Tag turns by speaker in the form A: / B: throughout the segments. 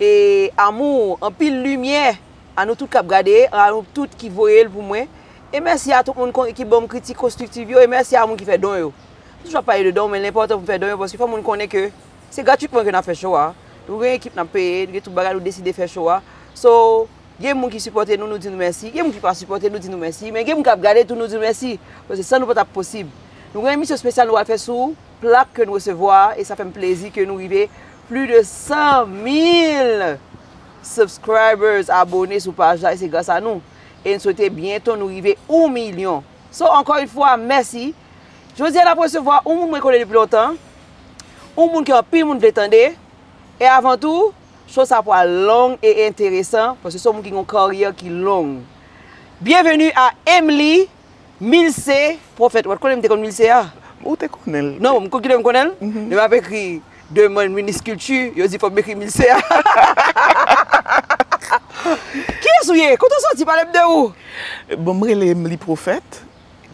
A: E amour anpil limyè a nou tout kap gade a nou tout ki voyel pou mwen e mèsi a tout moun kon ki banm kritik konstriktiv yo e mèsi a moun ki fè don yo m toujou ap pale de don men l enpòtan pou m fè don yo paske fò moun konnen ke se gratitman ke nap fè show a nou gen ekip nap peye nou gen tout bagay nou deside fè show a so gen moun ki sipòte nou nou di nou mèsi gen moun ki pa sipòte nou di nou mèsi men gen moun kap gade tou nou di nou mèsi paske san nou pa tap posib nou gen emisyon spesyal nou pral fè sou plak ke n resevwa a e sa fè m plezi ke nou rive pli de 100 mil subscribers abone sou paj la e se gras a nou e n swete byento nou rive 1 milyon so ankò yon fwa mèsi jodi a n ap resevwa yon moun mwen konnen depi lontan yon moun ke anpil moun vle tande e avan tou show sa pwal long e enteresan paske se yon moun ki gen yon karyè ki long byenveni a Emely. Milce prophète ou pat konnen m te konn Milce a? Ou te konnen
B: l? Non, ou konn kilè m konnen l?
A: Lè m ap ekri demande minis kilti, yo di fò m ekri Milce a. Kiyès ou ye? Kote ou soti? Pale m de ou. Bon, m rele
B: m li Prophète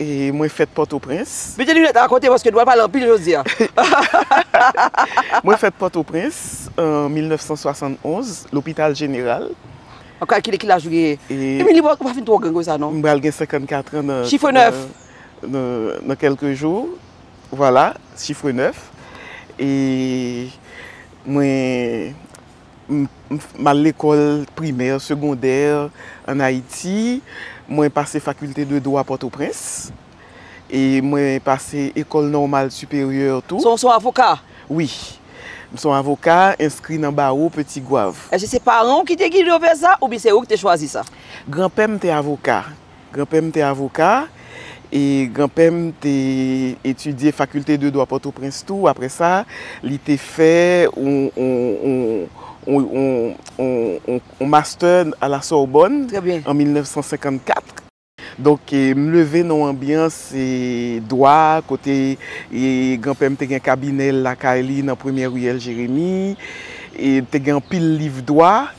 B: e mwen fèt Pòtoprens. Mete linèt a kote paske
A: nou pral pale anpil jodi a.
B: Mwen fèt Pòtoprens an 1971, lopital jeneral. Map kalkile
A: ki laj ou genyen. Emili ou pa fin twò gran konsa non. M pral gen 54 an
B: nan. Chiffre 9. Nan kelke jou. Vwala chiffre 9. E mwen m al lekòl primè, segondè an Ayiti. Mwen pase fakilte de dwa Pòtoprens. E mwen pase Ecole Normale Supérieure tou. Son w son avoka?
A: Wi.
B: M son avoka, enskri nan bawo Peti Gwav. Èske se paran w ki
A: te gide w vè sa oubyen se ou ki te chwazi sa? Granpè m te
B: avoka. Granpè m te avoka e granpè m te etidye Faculté de Droit Pòtoprens tou. Aprè sa, li te fè yon Master a la Sorbonne an 1954. Donk m leve nan yon anbyans dwa kote granpè m te gen kabinè l lakay li nan premyè riyèl Jeremi. Te gen anpil liv dwa.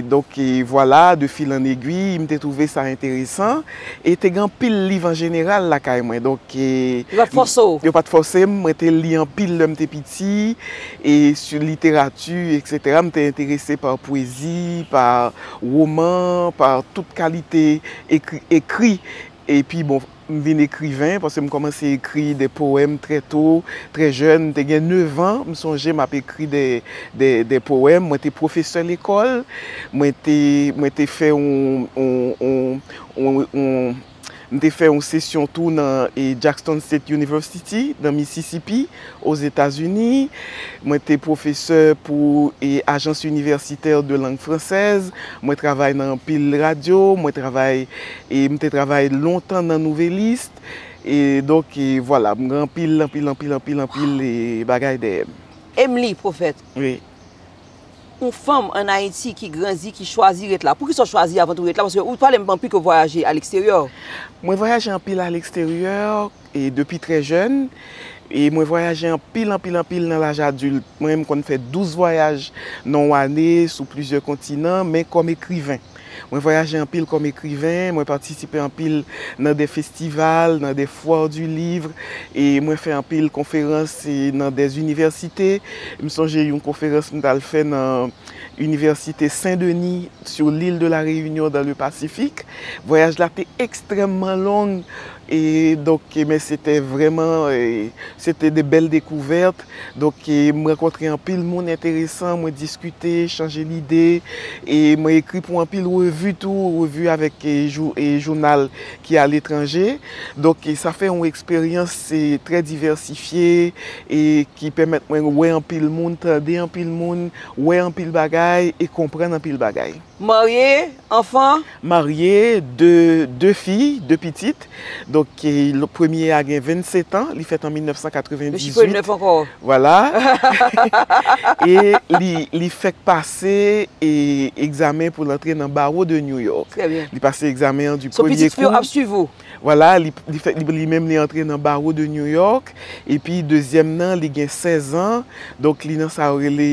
B: Donk vwala, de fil an egui, m te twouve sa enteresan. E te gen anpil liv an jeneral lakay mwen. Donk. Yo pa t fòse w? Yo
A: pa t fòse m.
B: Mwen te li anpil lè m te piti. E sou literati, eksetera. M te enterese pa pwezi, pa. Woman pa tout kalite ekri ekri epi bon m vin ekriven paske m kòmanse ekri de powèm trè to, trè jèn m te gen nevan m sonje m ap ekri de powèm mwen te pwofesè lekòl mwen te mwen te fè yon yon yon M te fè yon sesyon tou nan Jackson State University, nan Mississippi, Ozetazini. Mwen te pwofesè pou Agence Universitaire de Langue Française. Mwen travay nan anpil radyo. Mwen travay, m te travay lontan nan Nouvelliste. Donk, vwala, m gen anpil, anpil, anpil, anpil, anpil bagay dèyè m. Emily, pwofèt.
A: Wi.
B: Yon
A: fanm an Ayiti ki grandi, ki chwazi ret la. Poukisa w chwazi avan tou ret la? Paske ou pale m anpil ke w vwayaje a leksteryè. Mwen vwayaje
B: anpil a leksteryè e depi trè jèn. E mwen vwayaje anpil, anpil, anpil nan laj adilt. Mwen menm m konn fè 12 vwayaj nan yon ane sou plizyè kontinan men kòm ekriven. Mwen vwayaje anpil kòm ekriven, mwen patisipe anpil nan de festival, nan de foire du livre, e mwen fè anpil konferans nan de inivèsite. M sonje yon konferans m t al fè nan Université Saint Denis sur l'île de la Réunion dans le Pacifique. Vwayaj la te ekstrèmman long. E donk men se te vrèman se te de bèl dekouvèt. Donk m rankontre anpil moun enteresan, mwen diskite, chanje lide e mwen ekri pou anpil revi tou, revi avèk jounal ki aletranje. Donk sa fè yon eksperyans trè divèsifye e ki pèmèt mwen wè anpil moun, tande anpil moun, wè anpil bagay e konprann anpil bagay. Marye, anfan.
A: Marye,
B: de, de fi,
A: de pitit.
B: Donk, premye a gen 27 an, li fèt an 1998. Mesye Pwen Nèf ankò.
A: Vwala.
B: E li, li fèk pase e, egzamen pou l antre nan Bawo de New York. Trè byen. Li pase egzamen
A: an di
B: premye kou. So pitit fi yo ap
A: swiv
B: ou?
A: Vwala, li
B: fèk li menm li antre nan Barreau de New York, epi dezyèm nan li gen 16 an, donk li nan sa yo rele,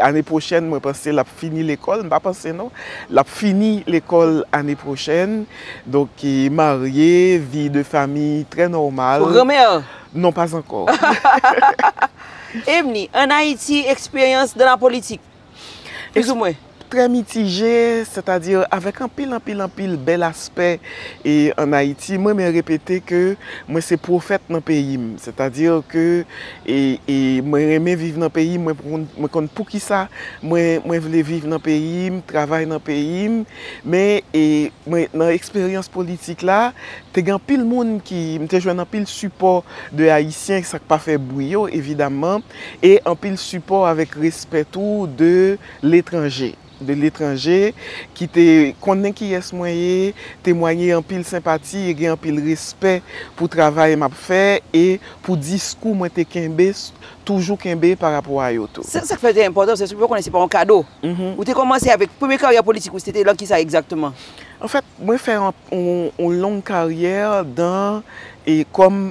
B: ane pwochèn mwen panse l ap fini lekòl, m pa panse non, l ap fini lekòl ane pwochèn, donk marye, vi de fami trè nòmal. Ou granmè? Non,
A: pas ankò.
B: Ebni,
A: ann Ayiti, eksperyans dan la politik? Pizoumwen. Trè mitije,
B: sètadi avèk anpil, anpil, anpil bèl aspè an Ayiti. Mwen renmen repete ke mwen se pwofèt nan peyi m. Sètadi ke mwen renmen viv nan peyi m, mwen konn poukisa mwen vle viv nan peyi m, travay nan peyi m. Men, nan eksperyans politik la, te gen anpil moun ki, m te jwenn anpil sipò de Ayisyen, sa k pa fè bwi yo, evidaman. e anpil sipò avèk respè tou de letranje, de letranje ki te konnen kiyès mwen ye, temwanye anpil senpati e gen anpil respè pou travay m ap fè e pou diskou mwen te kenbe, toujou kenbe pa rapò a yo tou. Se sa k fè l te enpòtan, se
A: pou yo konnen se pa yon kado. Ou te kòmanse avèk, premye karyè politik ou se te lan ki sa egzakteman? Anfèt, mwen
B: fè yon long karyè dan e kòm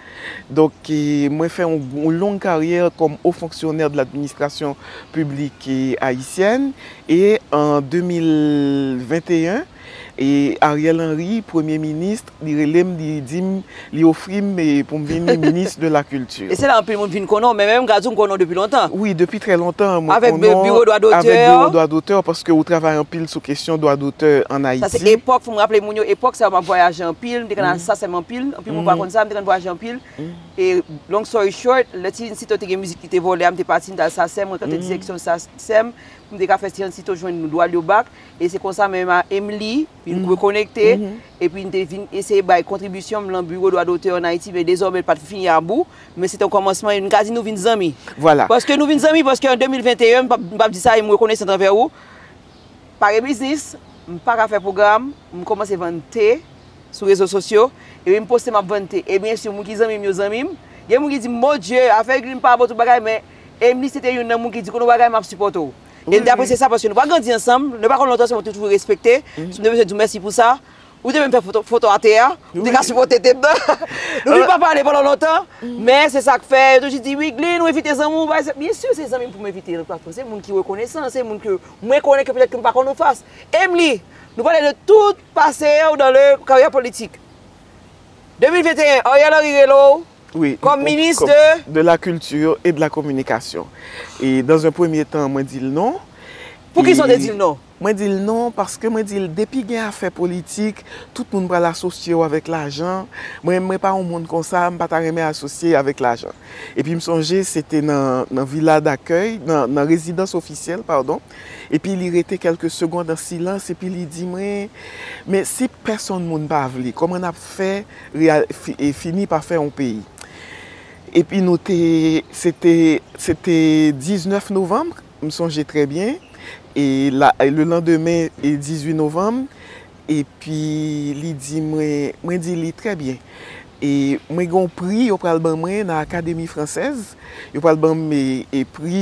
B: Donk, mwen fè yon long karyè kòm Haut Fonctionnaire de l'Administration Publique Haïtienne e an 2021, Ariel Henry, Premye Minis, li rele m, li di m, li ofri m pou m vin Minis de la Culture. E se la anpil moun vin konnen
A: w, men menm m ka di w m konnen w depi lontan. Wi, depi trè lontan
B: mwen konnen w. Avèk Biwo Dwa
A: Dotè. Avèk Biwo Dwa Dotè,
B: paske ou travay anpil sou kesyon Dwa Dotè an Ayiti. Sa se epòk, fò m raple
A: moun yo, epòk sa yo m ap vwayaje anpil, m te konn al Saasem anpil. Anpil moun pa konn sa, m te konn vwayaje anpil. E long story short, lè Ti Nsito te gen mizik li te vòlè a, m te pati, m t al Sasèm, mwen kanpe direksyon Sasèm pou m te ka fè Ti Nsito jwenn dwa l yo bak. E se konsa mwen menm a Emili, vin rekonekte, epi n te vin eseye bay kontribisyon m lan Biwo Dwa Dotè an Ayiti, men dezòmè l pa t fini a bou, men se te yon kòmansman e m ka di nou vin zanmi. Paske nou vin
B: zanmi, paske
A: an 2021, m p ap di sa e m rekonesan anvè ou, pa gen biznis, m pa ka fè pwogram, m kòmanse vann te sou rezo sosyo, epi m poste m ap vann te. E byensi moun ki zanmi m yo zanmi m. Gen moun ki di m, Mon Dye, afè glim pa bon tout bagay men Emili se te youn nan moun ki di konn yon bagay m ap sipòte w. E m te apresye sa paske nou pa grandi ansanm, nou pa konn lontan se mwen m toujou respekte, si m te bezwen di w mèsi pou sa, Ou te menm fè foto a te a, ou te ka sipote te bè. Nou vin pa pale pandan lontan, men se sa k fè yo toujou di Wideline ou evite zanmi w bay sa. Byen si se zanmi m pou m evite l paske se moun ki rekonesan, se moun ke mwen konnen ke petèt ke m pa konn ou fas. Emili, nou pale de tout pase w dan le karyè politik. 2021, Ariel Henry rele w kòm
B: minis de?
A: De la culture
B: et de la communication. E dan un premye tan mwen di l non. Poukisa w te
A: di l non? Mwen di l non
B: paske mwen di l depi gen afè politik tout moun pral asosye w avèk lajan, mwen menm mwen pa yon moun konsa m pa ta renmen asosye avèk lajan. Epi m sonje se te nan vila dakèy, nan rezidans ofisyèl padon, epi li rete kèlke segond an silans epi li di mwen men si pèsonn moun pa vle kòman n ap fè fini pa fè yon peyi. Epi nou te se te 19 novanm. M sonje trè byen, e le landemen 18 novanm, epi li di mwen, mwen di li trè byen, e mwen gen yon pri yo pral ban mwen nan Akademi Fransèz, yo pral ban m e pri,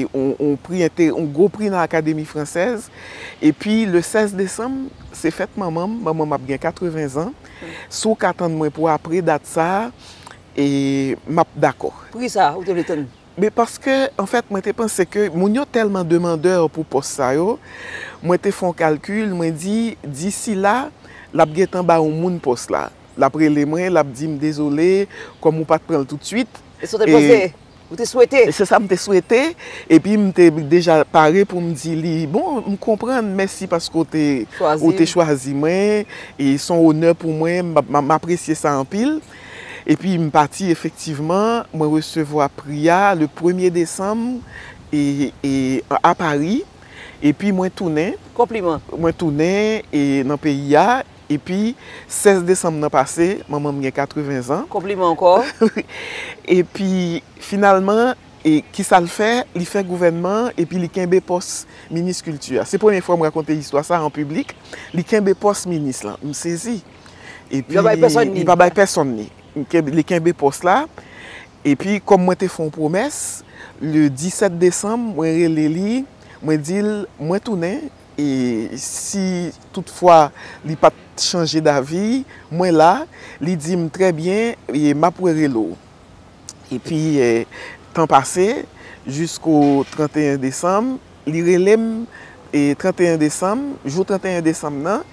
B: yon pri, yon gwo pri nan Akademi Fransèz, epi le 16 desanm se fèt manman m, manman m ap gen 80 zan, si w ka tann mwen pou apre dat sa a, e m ap dakò. Poukisa ou te vle
A: tann Men paske
B: anfèt mwen te panse ke moun yo tèlman demandè pou pòs sa yo, mwen te fè yon kalkil, mwen di disi la, l ap gen tan ba yon moun pòs la. L ap rele mwen, l ap di m dezole, kòm ou pa t pran l toutswit. Se sa w te panse?
A: Ou te swete? Se sa m te swete.
B: Epi m te deja pare pou m di li, bon, m konprann, mèsi paske w te chwazi mwen. E s on onè pou mwen, m apresye sa anpil. Epi m pati efektivman, mwen resevwa pri a le premye desanm e a Pari, epi mwen tounen. Konpliman. Mwen
A: tounen
B: e nan peyi a, epi 16 desanm nan pase, manman m gen 80 zan. Konpliman ankò. Epi finalman, e ki sa l fè? Li fè gouvènman an epi li kenbe pòs minis kilti a. Se premye fwa m rakonte istwa sa an piblik, li kenbe pòs minis lan. M sezi. Epi, li pa bay pèsonn li. Li kenbe pòs la. Epi, kòm mwen te fè yon pwomès, le 17 desanm, mwen rele li, mwen di l, mwen tounen, e si tout fwa li pa t chanje davi, mwen la, li di m, trè byen, e m ap rerele w. Epi, tan pase, jisko 31 desanm, li rele m, e 31 desanm, jou 31 desanm nan,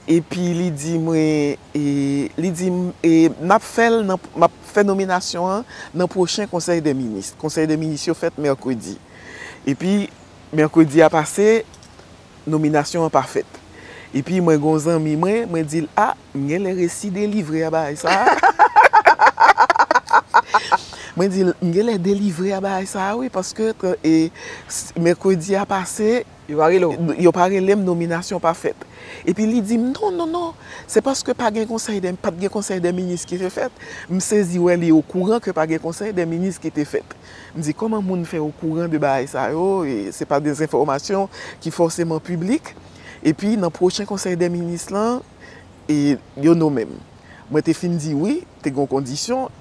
B: Epi li di mwen, li di m, m ap fè l nan, m ap fè nominasyon an nan pwochen konsèy dè minis. Konsèy dè minis yo fèt mèkredi. Epi mèkredi a pase, nominasyon an pa fèt. Epi mwen gen yon zanmi mwen, mwen di l, a, m gen lè resi delivre a bagay sa a. Mwen di l, m gen lè delivre a bagay sa a wi, paske mèkredi a pase. Yo pa rele w? Yo pa rele m, nominasyon pa fèt. Epi li di m, non, non, non, se paske pa gen konsèy dè, pa t gen konsèy dè minis ki te fèt. M sezi wè li okouran ke pa gen konsèy dè minis ki te fèt. M di, kòman moun fè okouran de bagay sa yo, e se pa de enfòmasyon ki fòseman piblik. Epi nan pwochen konsèy dè minis lan, e yo nome m. Mwen te fin di wi, te gen yon kondisyon,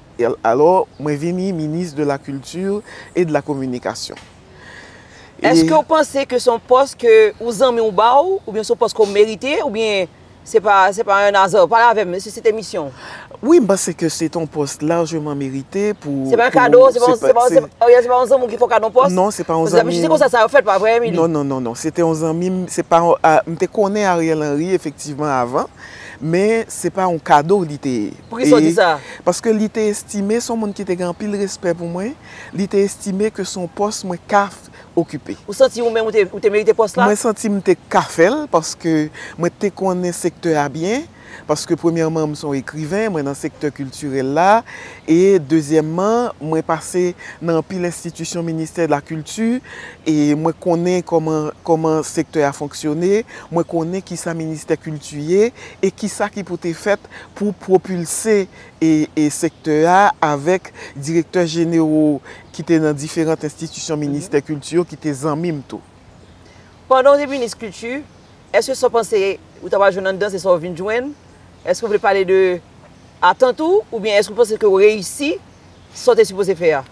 B: alò mwen vini minis de la kilti e de la kominikasyon.
A: Eske ou panse ke son pòs ke ou zanmi ou ba ou, oubyen son pòs ke ou merite, oubyen se pa se pa un hasard? Pale avè m, se te misyon w. Wi, m panse ke
B: se te yon pòs lajman merite pou... Se pa yon kado, se
A: pa yon zanmi w ki fè w kado yon pòs? Non, se pa yon zanmi m. Paske se
B: konsa sa yo fèt, pa
A: vre Emily? Non, non, non, non. Se te yon zanmi
B: m, se pa yon, m te konnen Ariel Henry efektivman avan, men se pa yon kado li te ye. Poukisa w di sa?
A: Paske li te
B: estime son moun ki te gen anpil respè pou mwen. li te estime ke se yon pòs mwen ka okipe. Ou santi ou menm
A: ou te merite pòs la? Mwen santi m te ka
B: fè l paske mwen te konnen sektè a byen, paske premyèman m se yon ekriven, mwen nan sektè kiltirèl la e dezyèmman mwen pase nan anpil enstitisyon ministè de la kilti e mwen konnen kòman sektè a fonksyone, mwen konnen kisa ministè kilti ye e kisa ki pou te fèt pou pwopilse sektè a avèk direktè jenero ki te nan diferant enstitisyon ministè kilti yo ki te zanmi m tou. Pandan w
A: te minis kilti, èske sa w panse ou ta pral jwenn anndan se sa w vin jwenn? Èske w vle pale de atant ou oubyen èske w panse ke w reyisi sa w te sipoze fè a?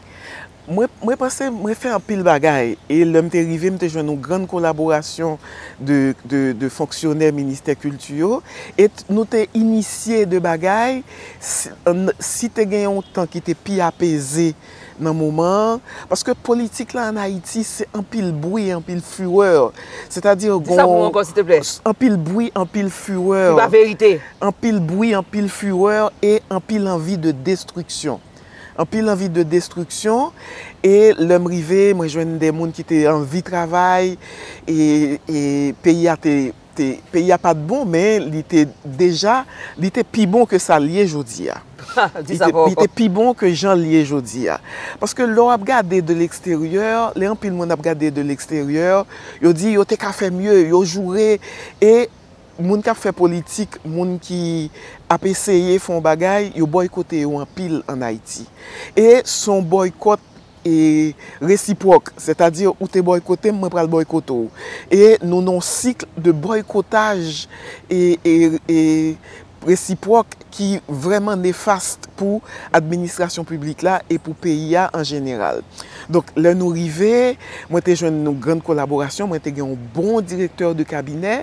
A: Mwen
B: panse mwen fè anpil bagay e lè m te rive m te jwenn yon grann kolaborasyon de fonksyonè ministè kilti yo e nou te inisye de bagay si te gen yon tan ki te pi apeze nan moman an paske politik la an Ayiti se anpil bwi anpil furè sètadi gon Di sa pou mwen ankò silteplè
A: Anpil bwi
B: anpil furè Ki pa verite
A: Anpil bwi
B: anpil furè e anpil anvi de destriksyon. Anpil anvi de destriksyon e lèm rive mwen jwenn de moun ki te anvi travay e peyi a te peyi a pat bon men li te deja li te pi bon ke sal ye jodi a. Li te pi bon ke janl ye jodi a. Paske lè wap gade de leksteryè lè anpil moun ap gade de leksteryè yo di yo te ka fè mye yo joure e Moun k ap fè politik, moun ki ap eseye fè yon bagay, yo bòykote yo anpil ann Ayiti. E s on bòykòt resipwòk, sètadi ou te bòykote m, mwen pral bòykote w. E nou nan yon sikl de bòykotaj resipwòk ki vrèman nefast pou administrasyon piblik la e pou peyi a an jeneral. Donk, lè nou rive, mwen te jwenn yon grann kolaborasyon, mwen te gen yon bon direktè de kabinè.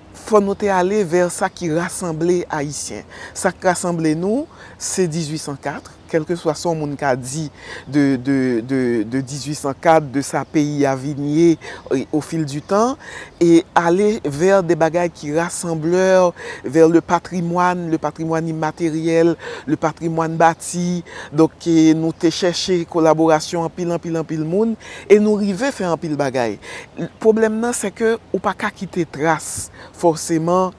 B: Fò nou te ale vè sa ki rasanble Ayisyen. Sa k rasanble nou, se 1804, kèlkeswa sa yon moun ka di de 1804, de sa peyi a vin ye o fil di tan, e ale vè de bagay ki rassembleur, vè le patrimwàn, le patrimwàn imateryèl, le patrimwàn bati, donk nou te chèche kolaborasyon anpil anpil anpil moun, E nou rive fè anpil bagay. Pwoblèm nan se ke ou pa ka kite tras fòseman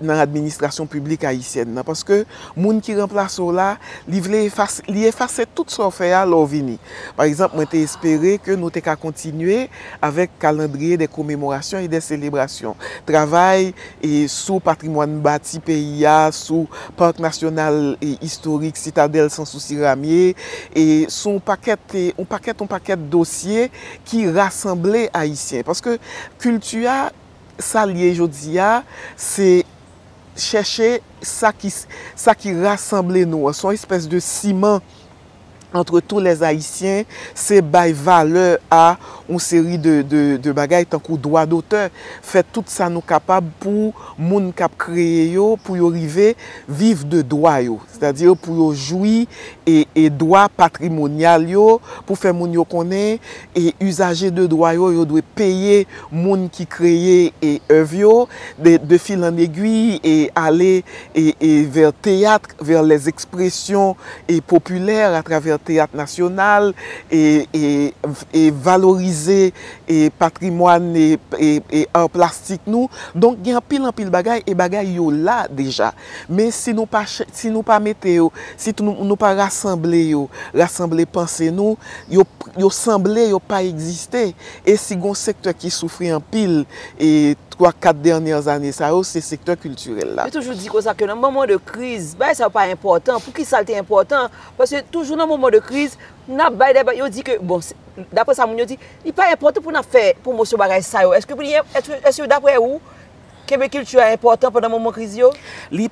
B: nan administrasyon piblik ayisyèn nan. Paske moun ki ranplase w la, li vle efase, li efase tout sa w fè a lè w vini. Pa egzanp, mwen te espere ke nou te ka kontinye avèk kalandriye de komemorasyon e de selebrasyon. Travay e sou patrimwàn bati peyi a, sou Parc National Historique Citadelle Sans Souci Ramie, e sou yon pakèt, yon pakèt, yon pakèt dosye ki rasanble Ayisyen. Paske kilti a, sa l ye jodi a, se chèche sa ki, sa ki rasanble nou an. Se yon espès de siman antre tou lè Ayisyen, se bay valè a yon seri de bagay tankou dwa dotè, fè tout sa nou kapab pou moun k ap kreye yo, pou yo rive viv de dwa yo. Sètadi pou yo jwi dwa patrimonyal yo, pou fè moun yo konnen izaje de dwa yo, yo dwe peye moun ki kreye èv yo, de fil an egwi, ale vè teyat, vers les expressions et populaires à travers théâtre national et valoriser et patrimoine et art plastique nou donc gen anpil anpil bagay et bagay yo la déjà men si nou pa si nou pa mete yo si nou pa rasanble yo rasanble panse nou yo sanble yo pa existe et si gon secteur ki soufri anpil e 3, 4 dènyè ane sa yo se sektè kiltirèl la. Yo toujou di konsa ke
A: nan
B: moman
A: de kriz, bagay sa yo pa enpòtan. Pou ki sa l te enpòtan? Paske toujou nan moman de kriz, n ap bay de bagay, yo di ke, bon, dapre sa moun yo di, li pa enpòtan pou n ap fè pwomosyon bagay sa yo. Eske daprè ou, kenbe kilti a enpòtan pandan moman kriz yo? Li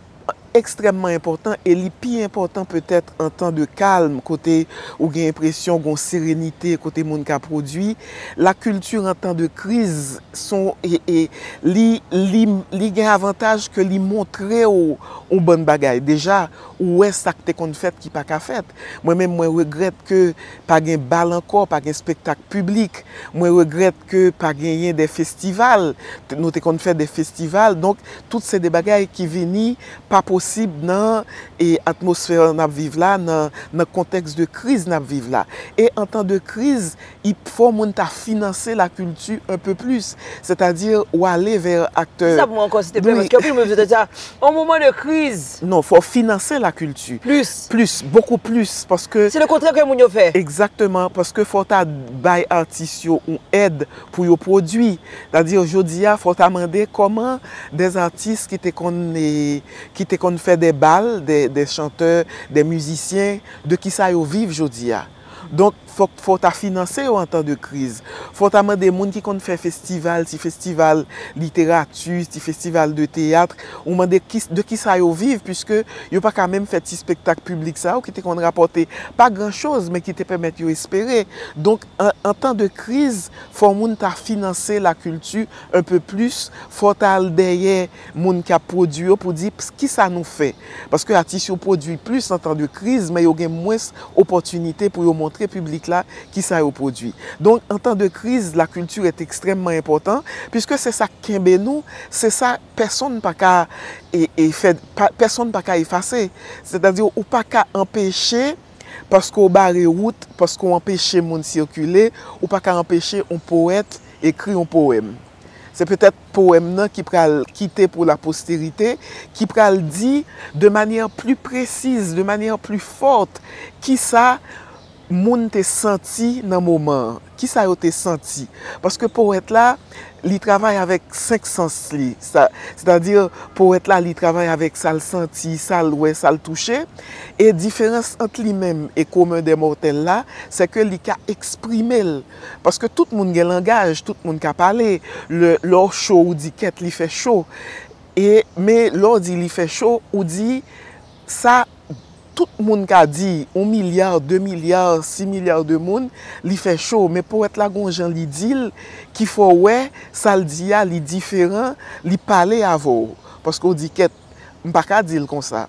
B: ekstrèmman enpòtan e li pi enpòtan petèt an tan de kalm kote ou gen enpresyon gon serenite kote moun ka pwodui, la kilti an tan de kriz son e li gen avantaj ke li montre ou yon bann bagay deja ou wè sa k te konn fèt ki pa ka fèt mwen menm mwen regrèt ke pa gen bal ankò pa gen spektak piblik mwen regrèt. ke pa genyen de festival, nou te konn fè de festival, donk tout se de bagay ki vini pa posib nan atmosfè n ap viv la, nan kontèks de kriz n ap viv la. E an tan de kriz, i fò moun ta finanse la kilti un peu plus, sètadi w ale vè aktè. Di sa pou mwen ankò, silteplè, paske
A: anpil moun vin di, On moman de kriz. Non, fò w finanse
B: la kilti. Plis. Plis, bokou plis, paske. Se le kontrè ke moun yo fè.
A: Egzakteman, paske
B: fò w ta bay atis yo on èd pou yo pwodui. Sètadi jodi a, fò w ta mande kòman dè atis ki te konn, ki te konn fè dè bal, dè chantè, dè mizisyen, de ki sa yo viv jodi a. Donk, fòk fò w ta finanse yo an tan de kriz. Fò w ta mande moun ki konn fè festival, ti festival literati, ti festival de teyat, ou mande de ki sa yo viv piske yo pa ka menm fè ti spektak piblik sa yo ki te konn rapòte pa gran choz men ki te pèmèt yo espere. Donk, an tan de kriz, fò moun ta finanse lakilti un peu plus, fò w ta al dèyè. Moun ki ap pwodui yo pou di pkisa nou fè. Paske atis yo pwodui plis an tan de kriz men yo gen mwens opòtinite pou yo montre piblik la kisa yo pwodui. Donk an tan de kriz la culture est extrèmement enpòtan piske se sa k kenbe nou, se sa pèsonn pa ka fè, pèsonn pa ka efase. Sètadi ou pa ka anpeche paske w bare wout, paske w anpeche moun sikile, ou pa ka anpeche yon powèt ekri yon powèm. Se petèt powèm nan ki pral kite pou la posterite, ki pral di de manyè pli presiz, de manyè pli fòt, ki sa moun te santi nan moman an, ki sa yo te santi. Paske powèt la, li travay avèk senk sans li. Sètadi, powèt la, li travay avèk sa l santi, sa l wè, sa l touche. E diferans ant li menm e komen dè mòtèl la, sè ke li ka eksprime l. Paske tout moun gen langaj, tout moun ka pale. Lè w cho ou di kèt li fè cho. E men lè w di li fè cho, ou di sa tout moun ka di, yon milya, de milya, si milya de moun, li fè cho. Men powèt la gen yon jan li di l ki fè w wè sa l di a li diferan, li pale avè w. Paske w di kèt, m pa ka di l konsa.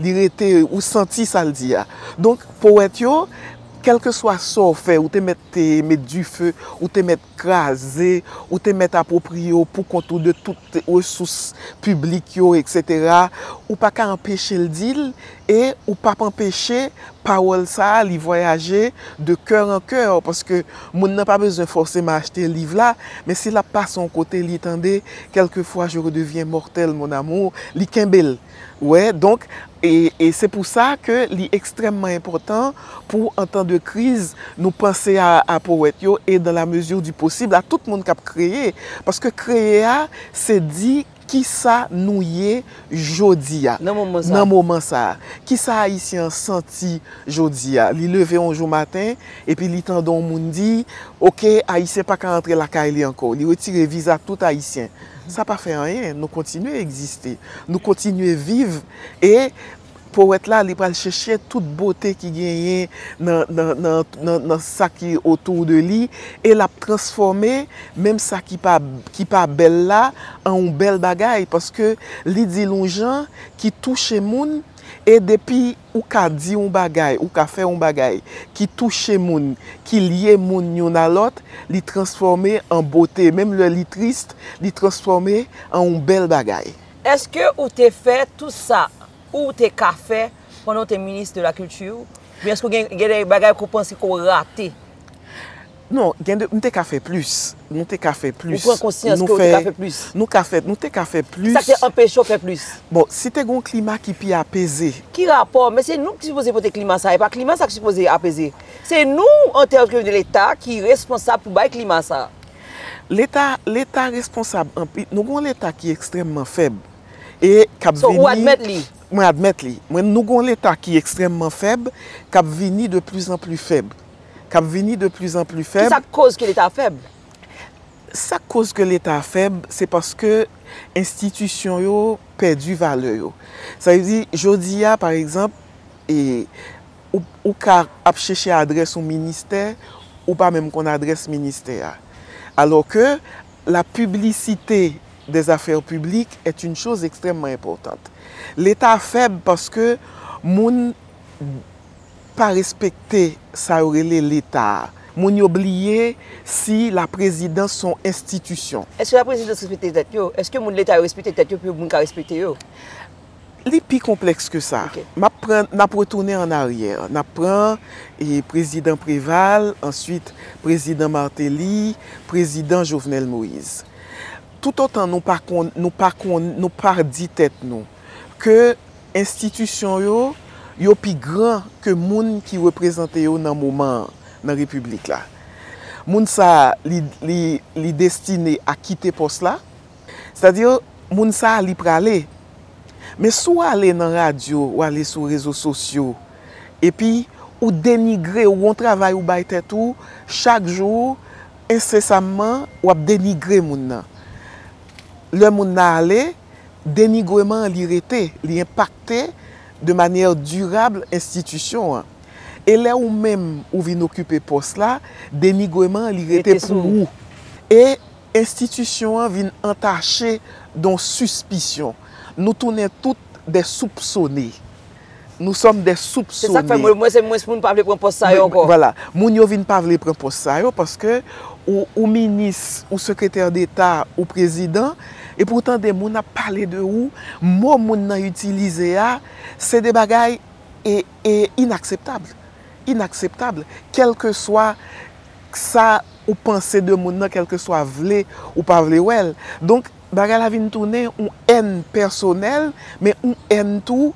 B: Li rete, ou santi sa l di a. Donk, powèt yo, kèlkeswa sa w fè, ou te mèt te met dife, ou te mèt kraze, ou te mèt apwopriye w poukont ou de tout resous piblik yo, eksetera, ou pa ka anpeche l di l e ou pap anpeche pawòl sa a li vwayaje de kè an kè, paske moun nan pa bezwen fòseman achte liv la, men si l ap pase yon kote li tande Quelquefois je redeviens mortel, mon amour, li kenbe l. Ou wè, donk, e se pou sa ke li ekstrèmman enpòtan pou an tan de kriz nou panse a powèt yo e dan la mezi di posib a tout moun k ap kreye. Paske kreye a se di ki sa nou ye jodi a, nan moman sa a. Ki sa Ayisyen an santi jodi a. Li leve yon jou maten epi li tande yon moun di, ok, Ayisyen pa ka antre lakay li ankò. Li retire viza tout Ayisyen. Sa pa fè anyen, nou kontinye egziste, nou kontinye viv e powèt la li pral chèche tout bote ki genyen nan sa ki otou de li e l ap transfòme menm sa ki pa bèl la an yon bèl bagay paske li di l yon jan ki touche moun e depi Ou ka di yon bagay, ou ka fè yon bagay ki touche moun, ki lye moun youn a lòt, li transfòme an bote, menm lè li tris, li transfòme an yon bèl bagay. Eske ou
A: te fè tout sa ou te ka fè pandan ou te minis de la kilti? Oubyen eske gen de bagay ke w panse ke w rate?
B: Non, gen de, m te ka fè plis. Nou te ka fè plis. Ou pran konsyans ke ou te ka fè
A: plis? Nou ka fè, nou te ka
B: fè plis. Kisa ki te anpeche w fè plis?
A: Bon, si te gen yon
B: klima ki pi apeze. Ki rapò? Men se
A: nou ki sipoze pote klima sa. E pa klima sa ki sipoze apeze. Se nou, an tèm de leta, ki responsab pou bay klima sa. Leta,
B: leta responsab anpi, nou gen yon leta ki ekstrèmman fèb. E k ap vini. So, ou admèt
A: li? Mwen admèt li. Mwen,
B: nou gen yon leta ki ekstrèmman fèb, k ap vini de plis an plis fèb. k ap vini de pli zan pli fèb. Ki sa k koz ke leta fèb?
A: Sa
B: k koz ke leta fèb, se paske enstitisyon yo pèdi valè yo. Sa vle di, jodi a, pa egzanp, e, ou, ou ka ap chèche adrès yon ministè, ou pa menm konn adrès ministè a. Alò ke, la piblisite dè zafè piblik èt yn choz ekstrèmman enpòtant. Leta fèb paske moun, pa respekte sa yo rele leta a. Moun yo bliye si la prezidans son enstitisyon. Eske la prezidans respekte
A: tèt yo? Eske moun leta yo respekte tèt yo pou yo moun ka respekte yo? Li
B: pi konplèks ke sa. Map pran, nap
A: retounen
B: an aryè. Nap pran prezidan Preval, answit prezidan Martelly, prezidan Jovenel Moïse. Toutotan nou pa konn, nou pa konn, nou pa di tèt nou ke. Enstitisyon yo, yo pi gran ke moun ki reprezante yo nan moman an, nan Repiblik la. Moun sa a, li, li, li destine a kite pòs la. Sètadi, moun sa a, li prale. Men si w ale nan radyo, ou ale sou rezo sosyo, epi ou denigre, ou gon travay ou bay tèt ou, chak jou, ensesamman, w ap denigre moun nan. Lè moun nan ale. Denigreman an li rete, li enpakte de manyè dirab enstitisyon an. E lè ou menm ou vin okipe pòs la, denigreman an li rete pou ou. E enstitisyon an vin antache don sispisyon. Nou tounen tout dè soupsone. Nou sòm dè soupsone. Se sak fè mwen se mwens
A: moun pa vle pran pòs sa yo ankò. Vwala. Moun yo vin pa
B: vle pran pòs sa yo paske ou minis, ou sekretè deta, ou prezidan, epi ou tande moun ap pale de ou, mo moun nan itilize a, se de bagay e inakseptab. Inakseptab. Kèlkeswa sa ou panse de moun nan, kèlkeswa vle ou pa vle wè l. Donk. Bagay la vin tounen yon èn pèsonèl, men yon èn tou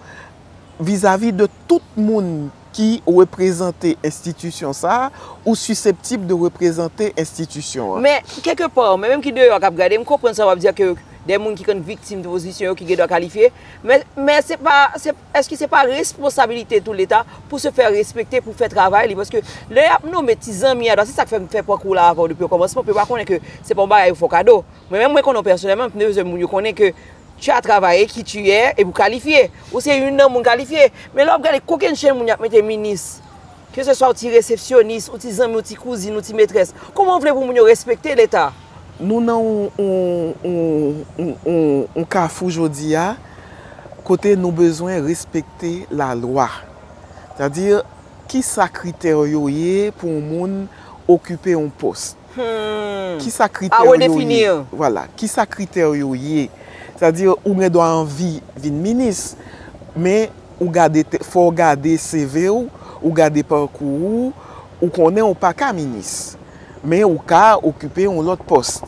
B: vizavi de tout moun ki reprezante enstitisyon sa a ou siseptib de
A: reprezante enstitisyon an. Men, kèlke pa, mwen menm ki deyò
B: a k
A: ap gade, m konprann sa w ap
B: di a
A: ke dè moun ki konn viktim de pozisyon yo ki gen dwa kalifye, men se pa, èske se pa responsabilite tou Leta pou se fè respekte, pou fè travay li? Paske lè y ap nome ti zanmi a, se sa k fè m fè pran kou w la avè w depi okòmansman, pou yo pa konnen ke se pa yon bagay yo fè w kado. Mwen menm mwen konnen w pèsonèlman, m te bezwen moun yo konnen ke tu as travaillé, qui tu es, epi w kalifye. Ou se youn nan moun kalifye. Men lè w ap gade kokennchenn moun y ap mete minis, ke se swa w ti resepsyonis, w ti zanmi, w ti kouzin, w ti metrès, kouman w vle pou moun yo respekte leta? Nou nan
B: yon kafou jodi a, kote nou bezwen respekte lalwa. Sa di, ki sa kritè yo ye pou yon moun okipe yon pòs? A redefini an. Vwala,
A: ki sa
B: kritè w yo ye? Sa di ou gen dwa anvi vin minis, men ou gade, fò w gade CV w, ou gade pakou ou, ou konnen ou pa ka minis. Men ou ka okipe yon lòt pòs.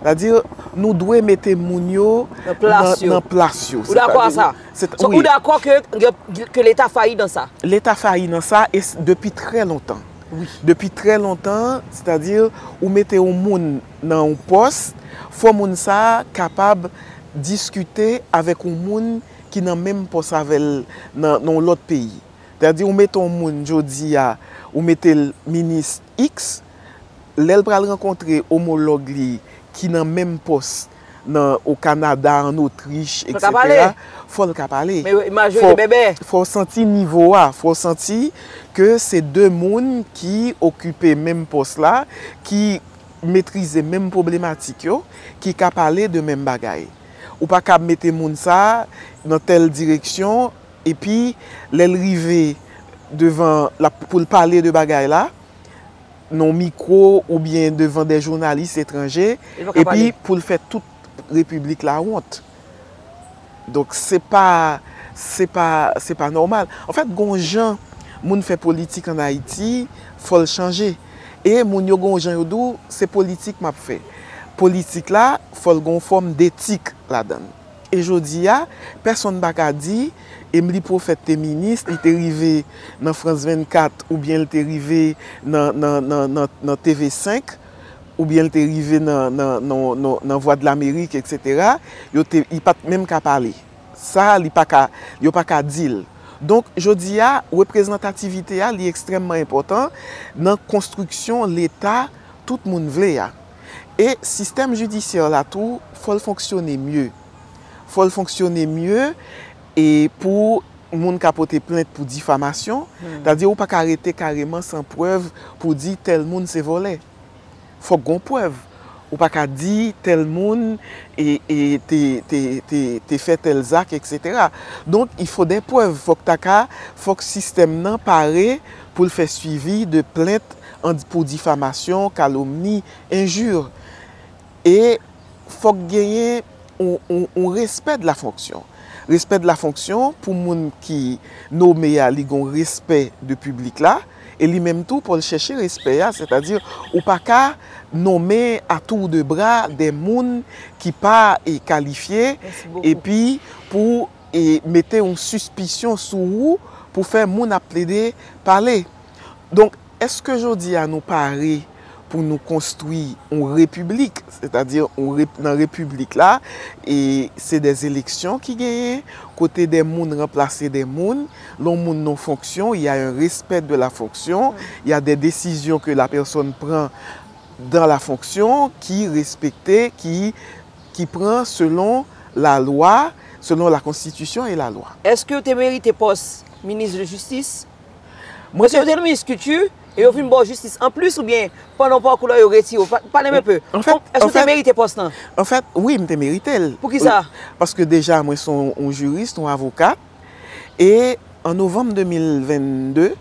B: Sa di nou dwe mete moun yo nan plas yo. Nan plas yo. Ou dakò a
A: sa? Wi. Ou dakò ke leta fayi nan sa? Leta fayi nan sa
B: e depi trè lontan. Depi trè
A: lontan,
B: sètadi ou mete yon moun nan yon pòs, fò moun sa a kapab diskite avèk yon moun ki nan menm pòs avè l nan yon lòt peyi. Sètadi ou mete yon moun jodi a, ou mete l minis iks, lè l pral rankontre omològ li ki nan menm pòs nan o Kanada, an Otrich, etc. Fò l ka pale. Fò
A: w santi nivo
B: a. Fò w santi ke se 2 moun ki okipe menm pòs la, ki metrize menm pwoblematik yo, ki ka pale de menm bagay. Ou pa kab mete moun sa a nan tèl direksyon, epi lè l rive devan, pou l pale de bagay la, nan mikwo oubyen devan de jounalis etranje epi pou l fè tout repiblik la wont. Donk se pa, se pa, se pa nòmal. Anfèt gon jan moun fè politik an Ayiti, fò l chanje. E moun yo gon jan yo di w se politik m ap fè. Politik la fò l gon fòm detik ladan l. E jodi a, pèsonn pa ka di, Emili Pwofèt te minis, li te rive nan France 24 oubyen li te rive nan TV 5, oubyen li te rive nan Vwadlamerik eksetera, yo te, li pa t menm ka pale. Sa a li pa ka, yo pa ka di l. Donk jodi a, reprezantativite a li ekstrèmman enpòtan nan konstriksyon Leta tout moun vle a. E sistèm jidisyè la tou fò l fonksyone mye. Fò l fonksyone mye e pou moun ka pote plent pou difamasyon. Sètadi ou pa ka rete kareman san prèv pou w di tèl moun se vòlè. Fòk gon prèv. Ou pa ka di tèl moun te fè tèl zak eksetera. Donk il fò dè prèv. Fòk ta ka, fòk sistèm nan pare pou l fè swivi de plent. An pou difamasyon, kalomni, enjure. E fòk genyen yon respè de la fonksyon. Respè de la fonksyon pou moun ki nome a li gen yon respè de piblik la e li menm tou pou l chèche respè a sètadi ou pa ka nome a tour de bra de moun ki pa kalifye epi pou e mete yon sispisyon sou ou pou fè moun ap plede pale. Donk, èske jodi a nou pare pou nou konstwi yon repiblik, sètadi nan repiblik la, e se dè eleksyon ki genyen, kote dè moun ranplase dè moun, lè yon moun nan fonksyon, y a un respect de la fonction, y a des décisions que la personne prend dans la fonction ki respekte, ki. ki pran selon la lwa, selon la konstitisyon e la lwa. Eske w te merite
A: pòs minis de jistis? Mwen se yo te minis kilti e yo vin ba w jistis anplis oubyen pandan pakou la yo retire w? Pale m enpe. Eske w te merite
B: pòs
A: lan? Anfèt, wi m
B: te merite l. Poukisa?
A: Paske deja mwen
B: se yon jurist, yon avokat. e an novanm 2022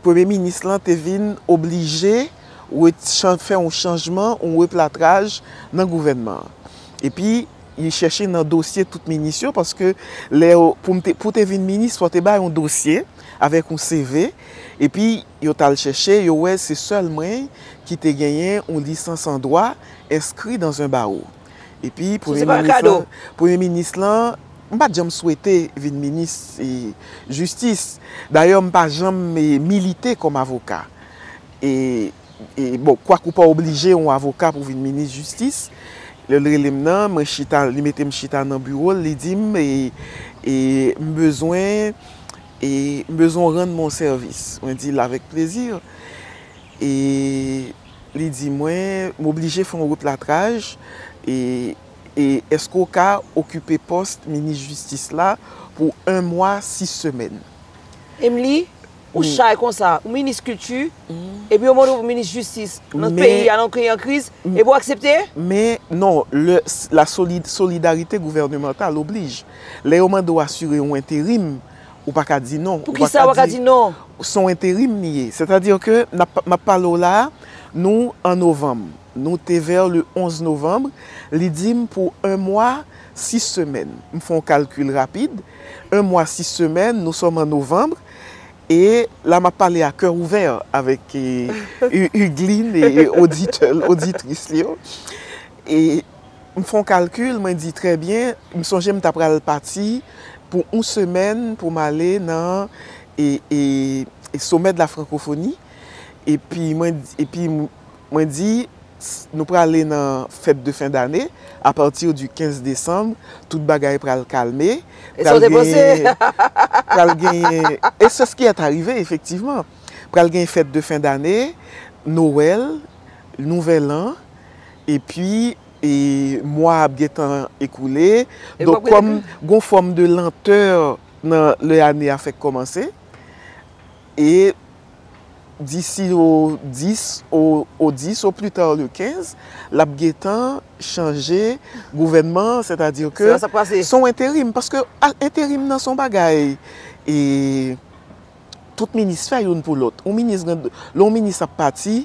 B: premye minis lan te vin oblije fè yon chanjman, yon replatraj nan gouvènman an. Epi li chèche nan dosye tout minis yo paske lè yo, pou w te vin minis fò w te bay yon dosye avèk yon CV epi yo t al chèche yo wè se sèl mwen ki te genyen yon lisans an dwa enskri dans un barreau. Epi premye minis lan, m pa t janm swete vin minis jistis. Dayè m pa janm milite kòm avoka. E bon, kwak ou pa oblije yon avoka pou vin minis jistis. Lè l rele m nan, mwen chita, li mete m chita nan biwo l, li di m, m bezwen, m bezwen w rann mwen yon sèvis. Mwen di l avèk plezi. Li di mwen, m oblije fè yon replatraj, e èske w ka okipe pòs minis jistis la pou 1 mwa 6 semèn? Emli,
A: ou chay konsa, ou minis kilti, epi yo mande w pou minis jistis nan peyi a, nan yon peyi an kriz, epi w aksepte? Men, non,
B: lè la solidarite gouvènemantal oblije. Lè yo mande w asire yon enterim, Ou pa ka di non. Pou ki sa ou pa ka di non?
A: Se yon enterim li
B: ye. Sè ta di ke m ap pale w la a, nou an novanm. Nou te vè le 11 novanm. Li di m pou 1 mwa 6 semèn. M fè yon kalkil rapid. 1 mwa 6 semèn, nou sòm an novanm. E la m ap pale a kè ouvè avèk Hugueline e oditè l, oditris l yo. M fon kalkil mwen di trè byen m sonje m ta pral pati pou yon semèn pou m ale nan somè de la francophonie epi mwen epi mwen di nou prale nan fèt de fen dane a pati di 15 décembre tout bagay pral kalme e sa w te panse
A: pral
B: genyen e se ski est arrive efektivman pral genyen fèt de fen dane nowèl nouvèl an epi mwa ap gen tan ekoule, donk kòm gon fòm de lantè nan lè ane a fèk kòmanse, e disi o 10, o 10 o pli ta le 15, l ap gen tan chanje gouvènman an, sètadi ke s on enterim, paske enterim nan s on bagay e. tout minis fè youn pou lòt. Yon minis gen, lè yon minis ap pati,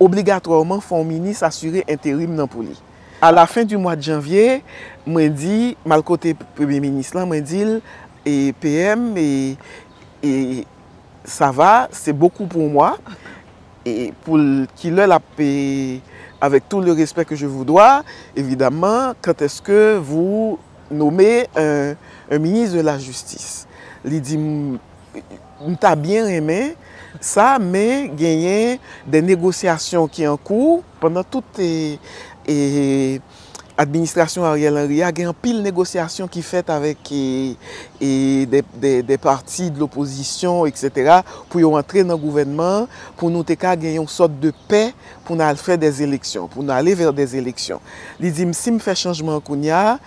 B: obligatwèman fò yon minis asire enterim nan pou li. A la fen di mwad janvye, mwen di, m al kote premye minis lan, mwen di l, e PM, e, e, sa va, se bokou pou yon mwa, e pou l, ki lè l ap, e, avèk tou le respè ke je vou dwa, evidaman, kantèske vou. Nome un ministre de la justice. Li di m ta byen renmen sa men genyen des négociations ki an kou. Pandan tout administrasyon Ariel Henry a gen anpil negosyasyon ki fèt avèk des partis de l'opposition etc. Pou yo antre nan gouvènman pou nou te ka gen yon sòt de pè. pou n al fè dè eleksyon, pou n ale vè dè eleksyon. Li di m si m fè chanjman kounya,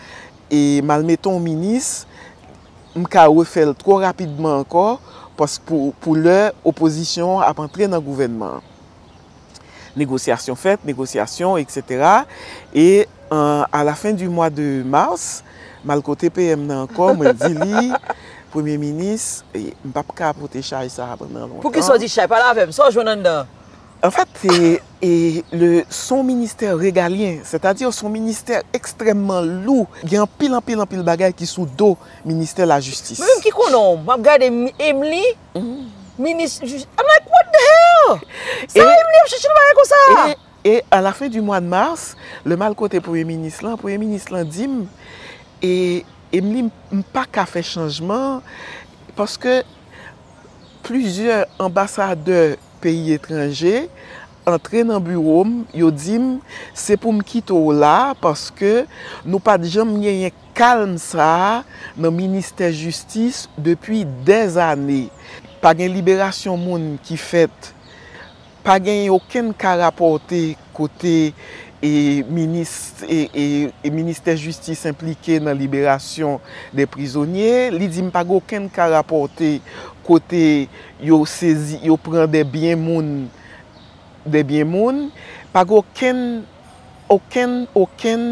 B: e m al mete yon minis, m ka refè l twò rapidman ankò, paske pou lè opozisyon an ap antre nan gouvènman an. Negosyasyon fèt, negosyasyon, eksetera, e a la fen di mwa de mas, m al kote PM nan ankò, mwen di li, Premye minis, m p ap ka pote chay sa a pandan lontan. Poukisa w di chay? Pale avè
A: m, sa w jwenn anndan an? En fèt,
B: le son ministè regalyen, sètadi son ministè ekstrèmman lou, gen anpil, anpil, anpil bagay ki sou do ministè lajistis. Mwen menm ki konnen w, m ap
A: gade Emely, minis jistis, I'm like, what the hell! Sa Emely ap chèche nan bagay konsa a? E a la fen di
B: mwa de mars, lè m al kote premye minis lan, premye minis lan di m, Emely, m pa ka fè chanjman, paske plizyè anbasadè peyi etranje antre nan biwo m, yo di m se pou m kite w la paske nou pa t janm genyen kalm sa a nan ministè jistis depi dèzane. Pa gen liberasyon moun ki fèt, pa genyen okenn ka rapòte. kote ministè jistis enplike nan liberasyon de prizonye, li di m pa gen okenn ka rapòte kote yo sezi, yo pran de byen moun, de byen moun, pa gen okenn, okenn, okenn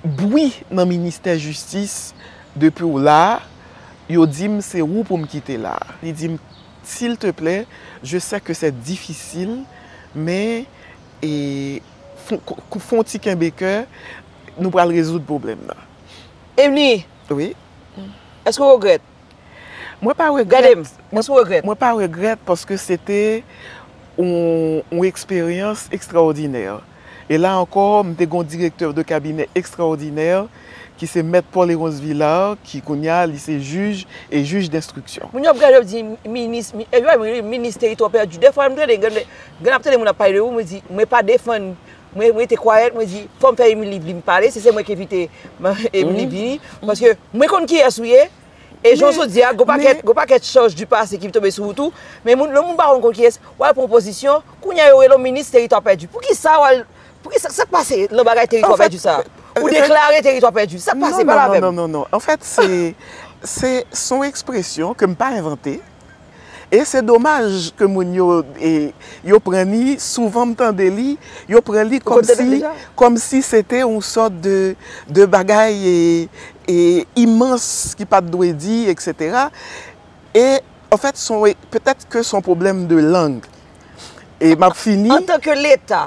B: bwi nan ministè jistis depi w la, yo di m se ou pou m kite la. Li di m S'il te plè, je sè ke sè difisil, men e fon ti kenbe kè, nou pral rezoud pwoblèm nan. Evni!
A: Wi?
B: Èske ou
A: regrèt? Mwen pa
B: regrèt. Gade m! Èske ou regrèt? Mwen
A: pa regrèt paske
B: se te yon eksperyans ekstraòdinè. E la ankò, m te gen yon direktè de kabinè ekstraòdinè ki se Mèt Paul Héronce Villard ki kounye a li se jij e jij denstriksyon. Moun yo ap gade yo ap di
A: minis, e yo pa menm rele minis teritwa pèdi. Dèfwa m tande, gen lè m ap tande moun ap pale de ou, mwen di mwen pa defann, mwen rete kwayèt, mwen di fò m fè Émilie vin pale, si se mwen ki envite Émilie vini, paske mwen konn kiyès ou ye, E jounen jodi a, gwo pakèt chaj di pase ki tonbe sou ou tou, men moun, lè moun pa konn kont kiyès, w al pran pozisyon, kounye a yo rele w minis teritwa pèdi. Poukisa w al, poukisa, sa k pase nan bagay teritwa pèdi sa a? Ou deklare teritwa pèdi. Sa k pase, pale avè m. Non, non, non, non, non, non, anfèt se,
B: se, son ekspresyon ke m pa envante. E se domaj ke moun yo, yo pran li, souvan m tande li, yo pran li kòm si, kòm si se te yon sòt de, de bagay imans ki pa t dwe di, eksetera. E, anfèt, petèt ke son pwoblèm de lang. E m ap fini. Antanke Leta,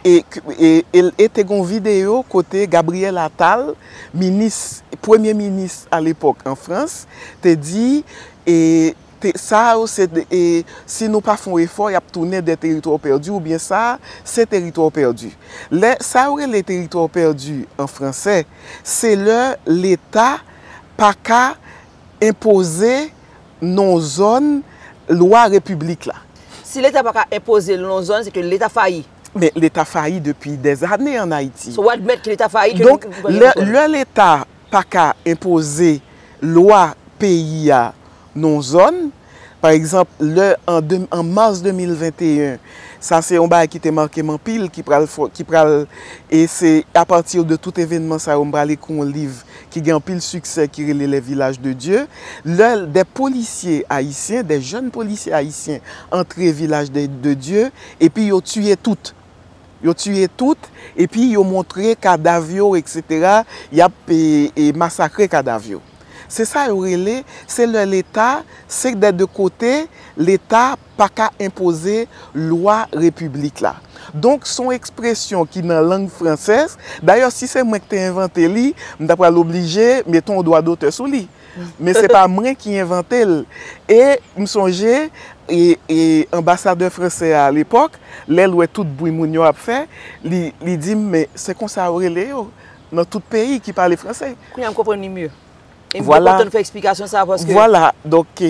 B: E te gen yon videyo kote Gabriel Attal, minis, premye minis a lepòk an Frans, te di, sa yo se, si nou pa fè yon efò, y ap tounen de teritwa pèdi oubyen sa a se teritwa pèdi. Lè, sa yo rele teritwa pèdi an franse, se lè leta pa ka. enpoze non zòn lwa repiblik la. Si leta pa ka
A: enpoze l non zòn se ke leta fayi. Men leta fayi
B: depi dèz ane an Ayiti. So w admèt ke leta fayi ke li pa
A: gen non zòn. Donk lè
B: leta pa ka enpoze lwa peyi a non zòn. Pa egzanp, lè an an mas 2021, sa se yon bagay ki te make m anpil, ki pral fò, ki pral, e se apati de tout evènman sa yo m pral ekri yon liv ki gen anpil siksè ki rele Les villages de Dieu. Lè de polisye ayisyen, de jèn polisye ayisyen antre vilaj de de Dye epi yo tiye tout. Yo tiye tout epi yo montre kadav yo eksetera, y ap e masakre kadav yo. Se sa yo rele, se lè leta, se dè de kote, leta pa ka enpoze lwa repiblik la. Donk, son ekspresyon ki nan lang fransèz, dayè si se mwen ki te envante li, m ta pral oblije mete yon dwa dotè sou li. Men se pa mwen ki envante l. E m sonje, e anbasadè fransè a alepòk, lè l wè tout bwi moun yo ap fè, li di m men se konsa yo rele yo. nan tout peyi ki pale franse. Kounya m konprann li mye.
A: E m te kontan ou fè eksplikasyon
B: sa a paske.
A: Vwala, donk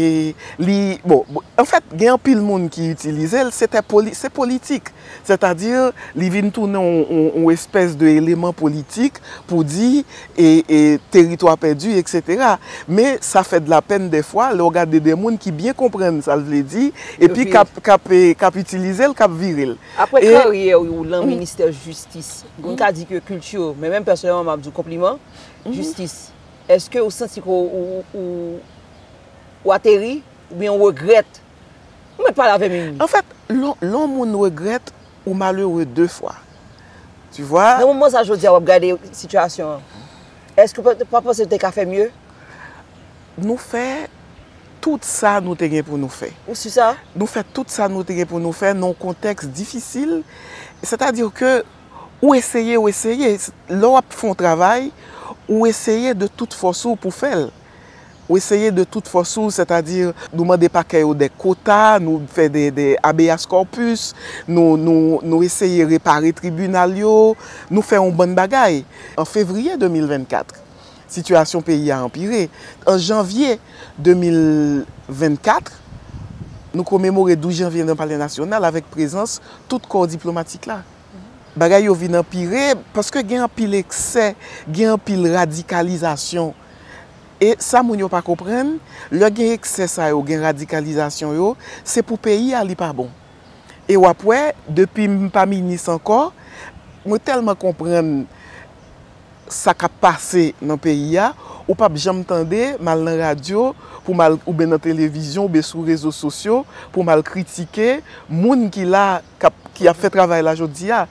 B: li, bon, an fèt gen anpil moun ki itilize l, se politik. Sètadi li vin tounen yon espès de eleman politik pou di e teritwa pèdi, eksetera. Men sa fè de la pèn dèfwa lè w gade de moun ki byen konprann sa l vle di epi k ap itilize l, k ap vire l. Aprè karyè
A: ou lan ministè jistis, Moun ka di ke kilti w, men menm pèsonèlman m ap di w konpliman, jistis. Eske ou santi ke ou ateri oubyen ou regrèt? Ou mèt pale avè m ui. Anfèt, lè yon
B: moun regrèt, ou malere de fwa. Tu vwa? Nan moman sa jodi a w ap
A: gade sitiyasyon an, eske ou pa panse ou te ka fè mye?
B: Nou fè tout sa nou te gen pou nou fè. Ou si sa? Nou fè
A: tout sa nou
B: te gen pou nou fè nan yon kontèks difisil. Sètadi ke ou eseye, ou eseye. Lè w ap fè yon travay, ou eseye de tout fòs ou pou fè l. Ou eseye de tout fòs ou, sètadi nou mande pakè yo dè kota, nou fè dè abeas kòpis, nou eseye repare tribinal yo, nou fè yon bann bagay. An fevriye 2024, Sitiyasyon peyi a anpire. An janvye 2024, nou komemore 12 janvye nan Palè Nasyonal avèk prezans tout kò diplomatik la. Bagay yo vin anpire paske gen anpil eksè, gen anpil radikalizasyon. E sa moun yo pa konprann, lè gen eksè sa yo, gen radikalizasyon yo, se pou peyi a li pa bon. E w ap wè, depi m pa minis ankò, mwen tèlman konprann sa kap pase nan peyi a, ou pap janm tande m al nan radyo pou m al oubyen nan televizyon oubyen sou rezo sosyo pou m al kritike moun ki la kap ki ap fè travay la jodi a.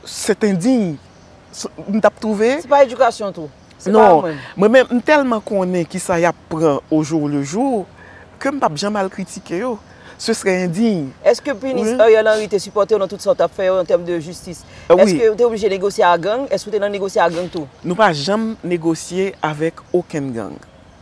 B: Sèt endiy. M tap twouve. Se pa edikasyon tou? Se pa
A: menm. Non. Mwen
B: menm m tèlman konnen kisa yap pran ojou lejou ke m pap janm al kritike yo. Ce serait indigne. Eske minis
A: Ariel Henry te sipòtew nan tout sa ou tap fè yo an tèm de jistis? Eske ou te oblije negosye a gang? Eske ou te nan
B: negosye
A: a gang
B: tou?
A: Nou
B: pa
A: janm negosye avèk okenn gang.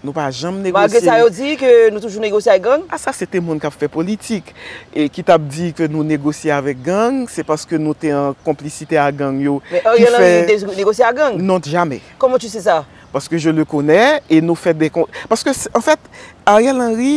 A: Nou pa
B: janm negosye. Malgre sa yo di ke
A: nou toujou negosye ak gang? A sa se te moun kap fè
B: politik ki tap di ke nou negosye avèk gang, se paske nou te an konplisite a gang yo ki fè. Men Ariel Henry te negosye
A: a gang?
B: Non
A: jamè. Koman
B: tu se sa?
A: Paske je le konè
B: e nou fè de kon. Paske an fèt Ariel Henry.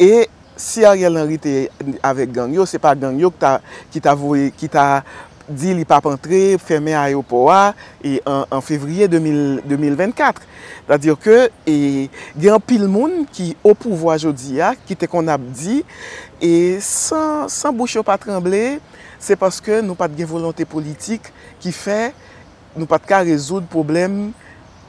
B: E si Ariel Henry te avèk gang yo, se pa gang yo ki ta voye, ki ta di li pap antre, fèmen ayewopò a an fevriye 2024. Sa di ke gen anpil moun ki o pouvwa jodi a, ki te konn ap di, e san bouch yo pa tranble, se paske nou pat gen volonte politik ki fè, Nou pat ka rezoud pwoblèm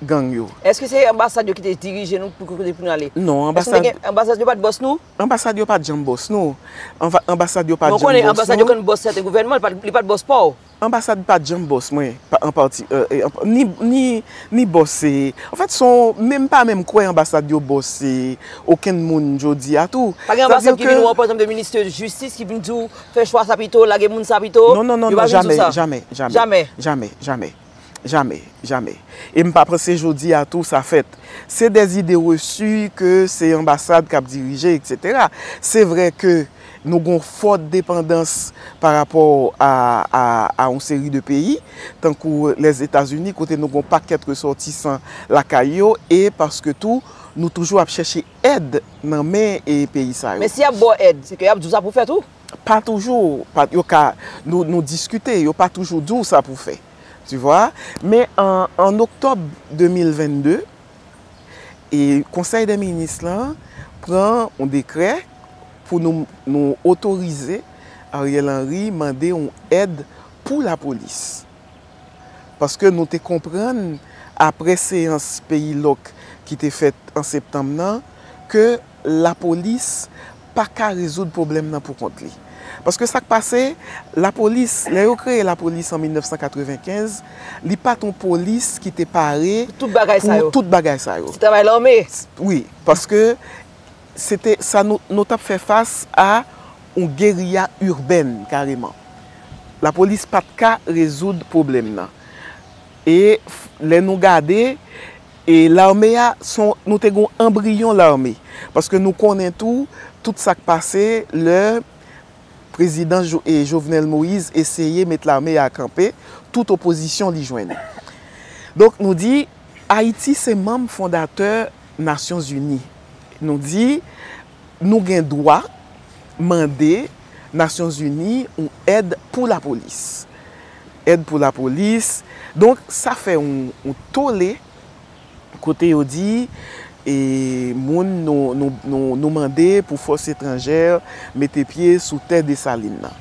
B: gang yo. Eske se anbasad yo ki
A: te dirije nou pou kote pou nou ale? Non, anbasad. Eske
B: anbasad yo
A: pat bòs nou? Anbasad yo pat janm bòs
B: nou. Anbasad yo pat janm bòs nou. Mwen konnen anbasad yo konn bòs sèten
A: gouvènman, li pat bòs pa w. Anbasad pat janm
B: bòs mwen, ni bòs se. An fèt, son menm pa menm kwè anbasad yo bòs se okenn moun jodi a tou. Pa gen anbasad ki vin wè w
A: pa ekzanp de ministè jistis ki vin di w Fè chwa sa pito, lage moun sa pito, yo pa vin sou sa. Non, non, non, non, jamè,
B: jamè, jamè, jamè, jamè, jamè, jamè. E m pa panse jodi a tou sa fèt. Se dè zide resu ke se anbasad k ap dirije, eksetera. Se vre ke nou gon fò depandans pa rapò a, a, a yon seri de peyi, tankou Lèzetazini, kote nou gon pakèt resòtisan lakay yo, e paske tou nou toujou ap chèche. èd nan men peyi sa yo. Men si yap baw èd, se ke
A: yap di w sa pou w fè tou? Pa toujou,
B: yo ka, nou diskite, yo pa toujou di w sa pou w fè. Tu vwa? Men an oktòb 2022, e konsèy dè minis lan pran yon dekrè pou nou otorize Ariel Henry mande yon èd pou lapolis. paske nou te konprann apre seyans peyi lòk ki te fèt an septanm nan ke lapolis pa ka rezoud pwoblèm nan pou kont li. Paske sa k pase, lapolis, lè yo kreye lapolis an 1995, li pa t yon polis ki te pare pou tout
A: bagay sa yo. Ti travay
B: lame!
A: Wi, paske
B: Se te sa nou, nou t ap fè fas a yon geriya irbèn kareman. Lapolis pa t ka rezoud pwoblèm nan. E lè nou gade, e lame a, s on, nou te gen yon anbriyon lame. Paske nou konnen tou, tout sa k pase lè prezidan Jovenel Moïse eseye met lame a kanpe, tout opozisyon li jwenn. Donk nou di, Ayiti se manm fondatè Nasyonzini. Nou di, nou gen dwa mande Nasyon Zini yon èd pou lapolis. Èd pou lapolis. Donk, sa fè yon tole kote yo di moun nou mande pou fòs etranjè mete pye sou tè Desalin nan.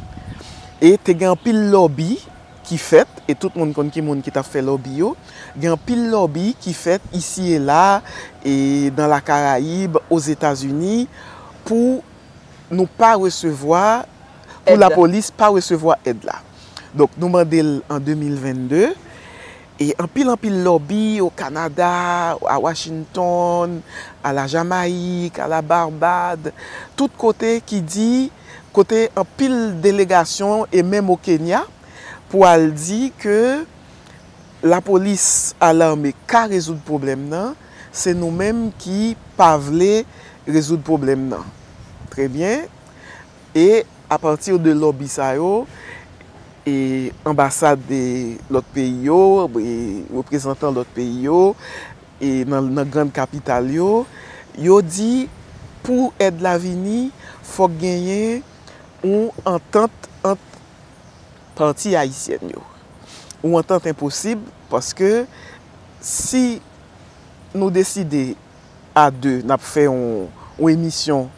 B: E te gen anpil lòbi. ki fèt e tout moun konn ki moun ki t ap fè lòbi yo. Gen anpil lòbi ki fèt isi e la, e nan la Karayib, Ozetazini pou nou pa resevwa, pou lapolis pa resevwa èd la. Donk nou mande l an 2022 e anpil anpil lòbi o Kanada, a Washington, a la Jamayik, a la Barbad, tout kote ki di. kote anpil delegasyon e menm o Kenya pou al di ke lapolis a lame ka rezoud pwoblèm nan, se nou menm ki pa vle rezoud pwoblèm nan. Trè byen, e a pati de lòbi sa yo, e anbasad lòt peyi yo, reprezantan lòt peyi yo, nan grand kapital yo, yo di pou èd la vini fòk genyen yon antant ant pati ayisyèn yo. Yon antant enposib paske si nou deside a 2 n ap fè yon emisyon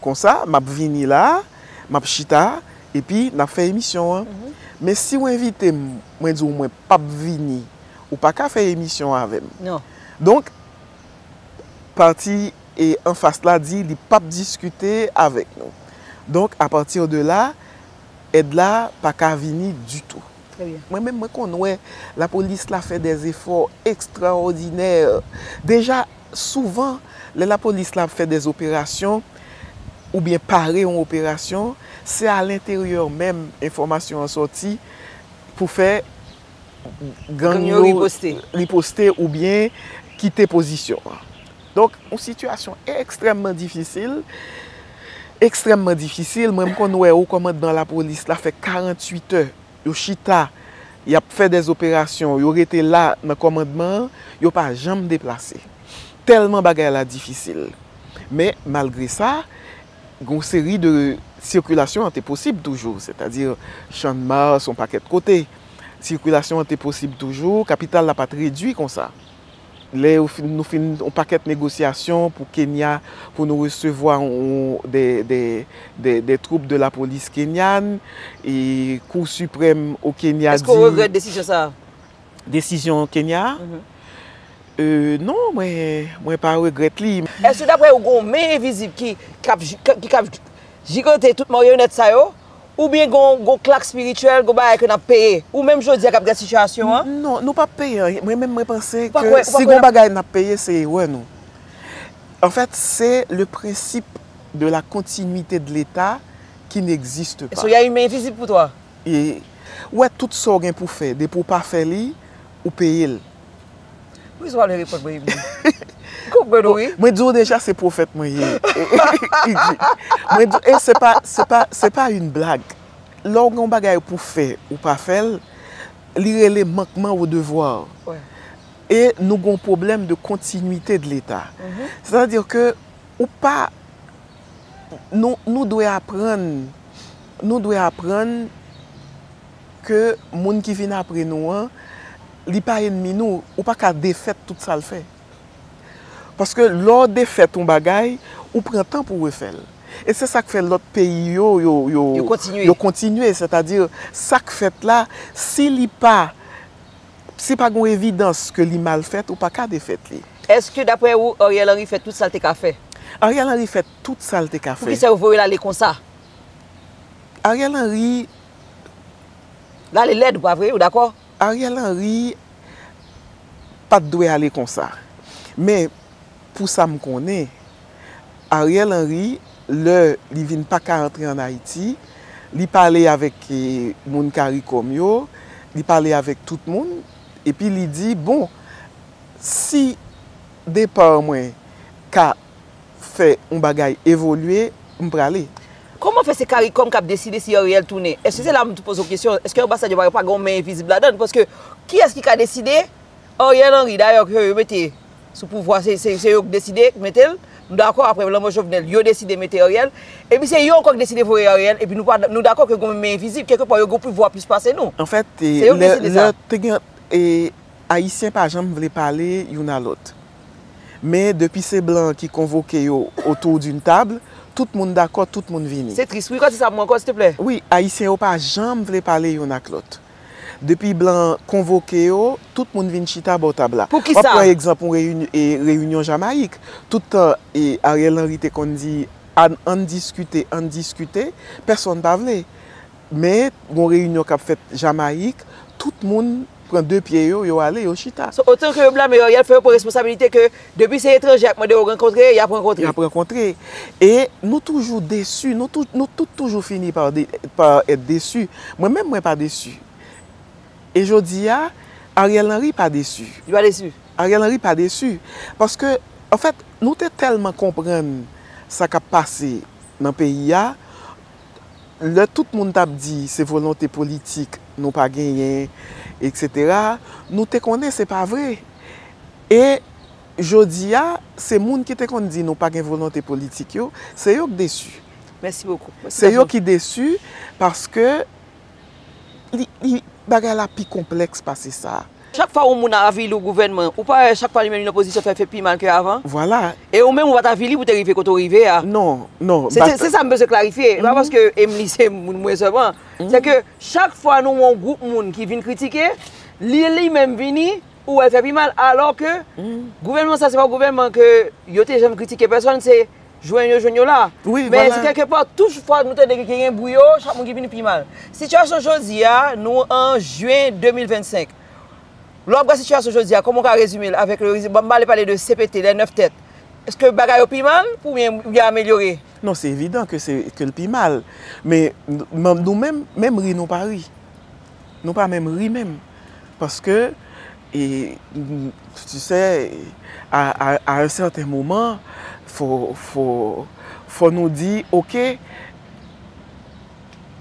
B: konsa, m ap vini la, m ap chita epi n ap fè emisyon an. Men si w envite m, mwen di w mwen pap vini ou pa ka fè emisyon avèm donk pati anfas la di li pap diskite avèk nou donk apati de la èd la pa ka vini ditou mwen menm mwen konn wè lapolis la fè dè efò ekstraòdinè deja souvan lè lapolis la ap fè dè operasyon oubyen pare yon operasyon se a lenteryè menm enfòmasyon an sòti pou fè gang yo riposte oubyen kite pozisyon. Donk, yon sitiyasyon ekstrèmman difisil, ekstrèmman difisil, mwen m konn wè ou komandman la polis la fè 48 è, yo chita, y ap fè dè zoperasyon, yo rete la nan komandman, yo pa janm deplase. Tèlman bagay la difisil. Men, malgre sa, Yon seri de sikilasyon an te posib toujou, sètadi Channmas, yon pakèt kote. Sikilasyon an te posib toujou, kapital la pa t redui konsa. Lè nou fin yon pakèt negosyasyon pou Kenya, pou nou resevwa dè twoup de lapolis kenyan, e Kou Siprèm o Kenya di. Èske w regrèt desizyon sa
A: a? Desizyon
B: Kenya a? Non, mwen pa regrèt li. Èske daprè ou gen yon
A: men envizib ki kab jigante tout maryonèt sa yo? Oubyen gen yon klak spirityèl, gen yon bagay ke n ap peye? Ou menm jodi a k ap gad sitiyasyon an? Non, nou p ap peye anyen.
B: Mwen menm mwen panse ke si gen yon bagay n ap peye se erè nou. Anfèt, se le prensip de la kontinwite de leta ki n egziste pa. So y a yon men envizib
A: pou twa? e
B: wè tout sa w gen pou fè depi w pa fè li ou peye l. Wi
A: sa w vle reponn mwen Edmie. M konprann ou wi. Mwen di w deja se pwofèt
B: mwen ye. Mwen di w e se pa se pa se pa yn blag. Lè w gen yon bagay pou w fè ou pa fè l li rele manquement au devoir e nou gen yon pwoblèm de continuité de l'Etat. Sètadi ke ou pa Nou dwe aprann Nou dwe aprann Ke moun ki vin apre nou an Li pa enmi nou Ou pa ka defèt tout sa l fè Paske lè w defèt yon bagay Ou pran tan pou w refè l E se sa k fè lòt peyi yo Yo kontinye Yo kontinye Sètadi sa k fèt la Si li pa Si pa gon evidans ke li mal fèt ou pa ka defèt li. Eske daprè ou
A: Ariel Henry fè tout sal te ka fè? Ariel Henry fè
B: tout sal te ka fè. Poukisa yo voyel ale
A: konsa?
B: Ariel Henry.
A: Lale lèd ou pa vre? Ou dakò? Ariel Henry
B: pat dwe ale konsa. Men Pou sa m konnen, Ariel Henry, lè li vin pa ka antre an Ayiti, li pale avèk moun caricom yo, li pale avèk tout moun, epi li di, bon, si depa mwen ka fè yon bagay evolye, m prale. Kòman fè se caricom
A: k ap deside si Ariel tounen? Èske se la m tou poze w kesyon, èske anbasad yo pa gen yon men envizib ladan l? Paske, kiyès ki ka deside? Ariel Henry, dayè, ke yo mete Sou pouvwa se yo k deside mete l, m dakò aprè lanmò Jovenel yo deside mete Ariel, epi se yo ankò k deside voye Ariel epi nou dakò ke gonm men envizib kèlke pwa yo gon pouvwa plis pase nou. Anfèt
B: lè te gen ayisyen pa janm vle pale youn a lòt. Men depi se blan ki konvoke yo autour d'une table tout moun dakò tout moun vini. Se tris wi kòti sa pou mwen ankò
A: silteplè. Wi ayisyen yo pa
B: janm vle pale youn ak lòt. Depi blan an konvoke yo, tout moun vin chita bò tab la. Pou kisa? Wap pran egzanp yon reyinyon Jamayik. Tout tan Ariel Henry te konn di ann diskite, ann diskite, pèsonn pa vle. Men, yon reyinyon kap fèt Jamayik, tout moun pran de pye yo, yo ale, yo chita. So, otanke yo blame Ariel,
A: fè yo pran responsabilite ke Depi se etranje y ap mande yo rankontre, y ap rankontre. Y ap rankontre. E
B: nou toujou desi, nou tout toujou fini pa èt desi. Mwen menm mwen pa desi. E jodi a, Ariel Henry pa desi. Li pa desi.
A: Ariel Henry pa desi.
B: Paske, an fèt, nou te tèlman konprann sa k ap pase nan peyi a, lè tout moun t ap di se volonte politik nou pa genyen, eksetera, nou te konnen se pa vre. E jodi a, se moun ki te konn di nou pa gen volonte politik yo, se yo k desi. Mèsi bokou.
A: Se yo ki desi
B: paske bagay la pi konplèks pase sa. Chak fwa yon moun
A: avili yon gouvènman, ou pa wè chak fwa li menm li nan pozisyon fè l fè pi mal ke avan? Vwala. E ou menm
B: ou pa t avili
A: pou te rive kote ou rive a. Non, non.
B: Se sa m
A: bezwen klarifye. E pa paske Emely se moun mwen sèlman. Se ke chak fwa nou wè yon gwoup moun ki vin kritike, li li menm vini, Ou wè fè pi mal alò ke gouvènman sa se pa gouvènman ke yo te janm kritike pèsòn se jwenn yo jwenn yo la. Men se kèlke pa
B: touj fwa
A: nou tande ke gen bri yo chak moun ki vini pi mal. Sitiyasyon jodi a nou an jyen 2025 lè w ap gad sitiyasyon jodi a kòman w ka rezime l avèk lè m ale pale de cpt lè 9 tèt èske bagay yo pi mal oubyen yo amelyore? Non se evidan ke
B: l pi mal men nou menm menm ri nou pa ri. Nou pa menm ri menm paske e tu sè a un certain moment fò nou di ok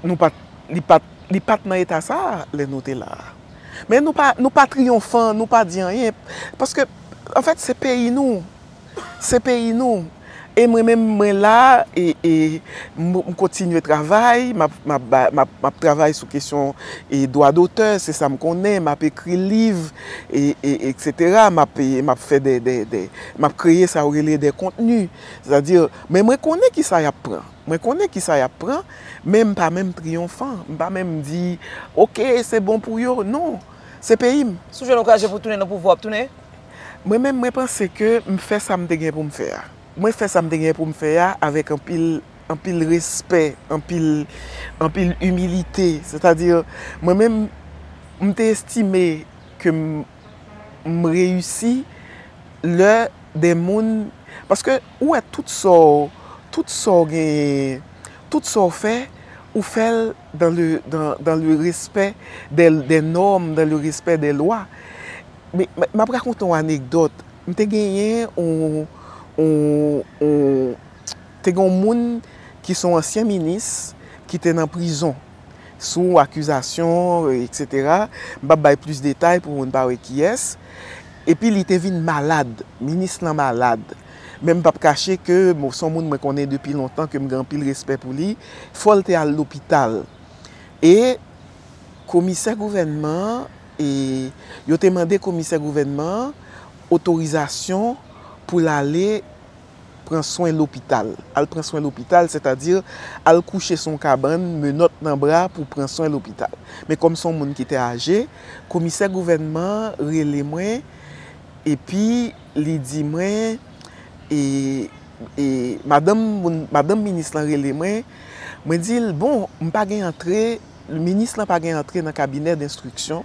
B: nou pat li pat nan eta sa lè nou te la a. Men nou pa triyonfan, nou pa di anyen paske anfèt se peyi nou. Se peyi nou. E mwen menm mwen la e e m kontinye travay, m ap m ap travay sou kesyon dwa dotè, se sa m konnen, m ap ekri liv e e eksetera, m ap m ap fè de de de, m ap kreye sa yo rele de kontni. Sètadi, men mwen konnen ki sa y ap pran. Mwen konnen ki sa y ap pran, men m pa menm triyonfan. M pa menm di, ok, se bon pou yo. Non. Se peyi m. Sou je nou kraje pou
A: tounen nan pouvwa w ap tounen? Mwen menm mwen
B: panse ke m fè sa m te gen pou m fè a. Mwen fè sa m te gen pou m fè a avèk anpil, anpil respè, anpil, anpil imilite. Sètadi, mwen menm m te estime ke m m reyisi lè de moun, paske ou wè tout sa w, tout sa w genyen, tout sa w fè, ou fè l. dans le respect des normes, dans le respect des lois. M ap rakonte yon anekdòt, m te genyen yon moun ki son ansyen minis ki te nan prizon sou akizasyon etc. M pa p bay plis detay pou moun pa wè kiyès. Epi li te vin malad, minis lan malad. Men m pap kache ke m s on moun mwen konnen depi lontan ke m gen anpil respè pou li, fò l te al lopital. E komisè gouvènman an e yo te mande komisè gouvènman an otorizasyon pou l ale pran swen lopital. Al pran swen lopital sètadi al kouche sou yon kabann, menòt nan bra pou pran swen lopital. Men kòm s on moun ki te aje, komisè gouvènman an rele mwen epi Li di mwen, e, e, madanm moun, madanm minis lan rele mwen, mwen di l, bon, m pa gen antre, minis lan pa gen antre nan kabinè denstriksyon,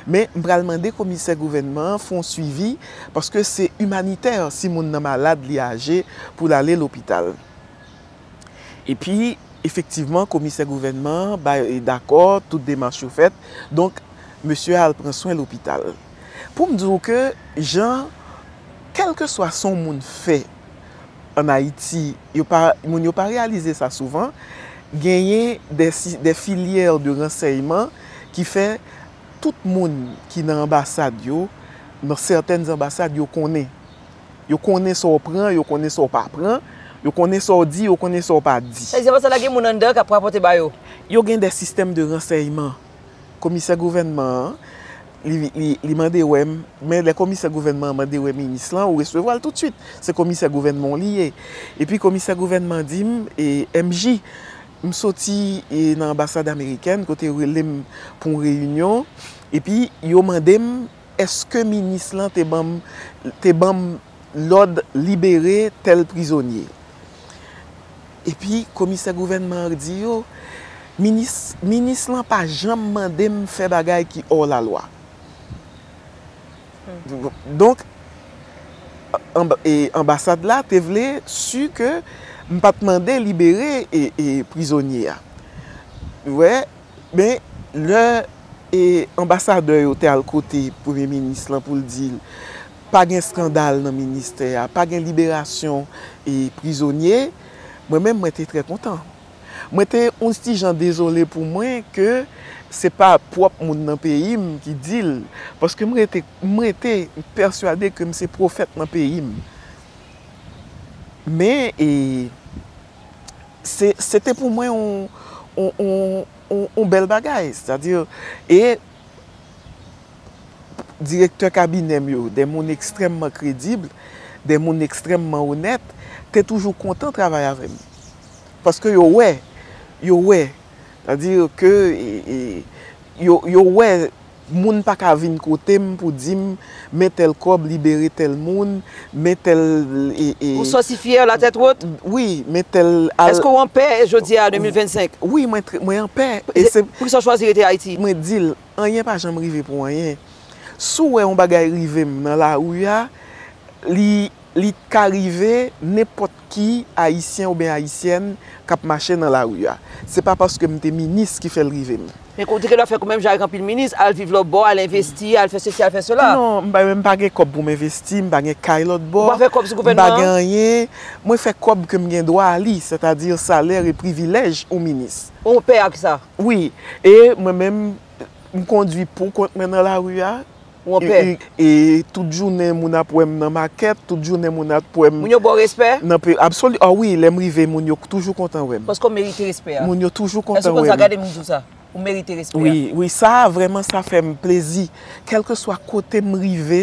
B: men m pral mande komisè gouvènman an fè yon suivi, paske se imanitè si moun nan malad, li aje, pou l ale lopital. Epi, efektivman, komisè gouvènman an bay, dakò, tout demach yo fèt, donk, mesye a al pran swen lopital. pou m di w ke jan kèlkeswa son moun fè an Ayiti, yo pa, moun yo pa reyalize sa souvan, genyen dè si, dè filyè de ransèyman ki fè tout moun ki nan anbasad yo, nan sètèn anbasad yo konnen. Yo konnen sa w pran, yo konnen sa w pa pran, yo konnen sa w di, yo konnen sa w pa di. Sa vle di anbasad la gen moun anndan
A: k ap rapòte ba yo? Yo gen dè sistèm
B: de ransèyman. Komisè gouvènman an, li mande wè m, men lè komisè gouvènman an mande wè minis lan, ou resevwa l toutswit. Se komisè gouvènman w li ye. Epi komisè gouvènman di m, MJ, m soti nan anbasad amerikèn kote yo rele m pou yon reyinyon, epi yo mande m èske minis lan te ban m, te ban m lòd libere tèl prizonye. Epi komisè gouvènman an di yo, Minis, minis lan pa janm mande m fè bagay ki hors la loi. Donk, anbasad la te vle si ke m pa t mande libere prizonye a. Ou wè? Men, lè anbasadè yo te al kote premye minis lan pou l di l, Pa gen skandal nan ministè a, pa gen liberasyon prizonye, mwen menm mwen te trè kontan. Mwen te yon ti jan dezole pou mwen ke se pa pwòp moun nan peyi m ki di l, paske m rete pèsuade ke m se pwofèt nan peyi m. Men, se te pou mwen yon bèl bagay. Direktè kabinè m yo, de moun ekstrèmman kredib, de moun ekstrèmman onèt, te toujou kontan travay avè m. Paske yo wè, yo wè, sètadi ke yo wè moun pa ka vin kote m pou di m, Men tèl kòb libere tèl moun, men tèl e. Ou santi
A: fyè la tèt wot? Wi, men tèl
B: al. Èske w an pè
A: jodi a 2025? Wi, mwen an
B: pè. Poukisa w chwazi
A: rete Ayiti? Mwen di l, anyen
B: pa janm rive pou anyen. Si w wè yon bagay rive m nan lari a, li ka rive nenpòt. ki Ayisyen oubyen Ayisyèn k ap mache nan lari a. Se pa paske m te minis ki fè l rive m. Men kou w te gentan fè kou
A: menm jan ak anpil minis, al viv lòtbò, al envesti, al fè sesi, al fè sela. Non, m pa menm pa gen
B: kòb pou m envesti, m pa gen kay lòtbò, Ou pa fè kòb sou m pa gouvènman gen an?
A: anyen.
B: Mwen fè kòb ke m gen dwa a li, sètadi salè e privilèj yon minis. Ou pè ak sa?
A: Wi. E
B: mwen menm, m kondui pou kont mwen nan lari a, Ou anpè.
A: E tout
B: jounen moun ap wè m nan makèt, tout jounen moun ap wè m. Moun yo ba w respè?
A: Nan pe, absoli, a wi,
B: lè m rive moun yo toujou kontan wè m. Paske w merite respè a.
A: Moun yo toujou kontan wè
B: m. Èske w konn sa, gade moun di w
A: sa, ou merite respè a. Wi, wi, sa a vrèman
B: sa fè m plezi. Kèlke swa kote m rive,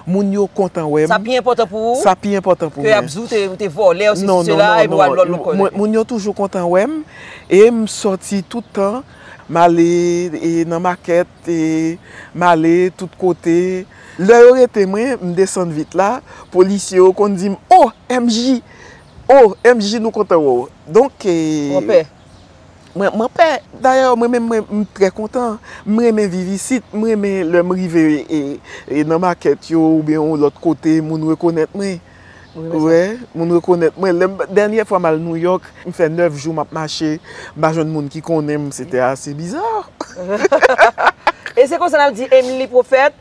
B: moun yo kontan wè m. Sa pi enpòtan pou ou. Sa
A: pi enpòtan pou mwen. Ke y ap
B: di w te, ou te vòlè,
A: ou se si se la, e pou w al lòl lòk kòlè. Moun yo
B: toujou kontan wè m, e m sòti tout tan, m ale nan makèt. te m ale tout kote lè yo rete mwen m desann vit la polisye yo konn di m o MJ o MJ nou kontan wè w donk
A: mwen
B: pè dayè mwen menm m trè kontan m renmen viv isit m renmen lè m rive nan makèt yo oubyen yon lòt kote moun rekonèt mwen. moun rekonèt mwen. Dènyè fwa m al Nouyòk, m fè 9 jou m ap mache, m pa jwenn moun ki konnen m. Sete ase biza.
A: E se konsa n ap di Emili Pwofèt,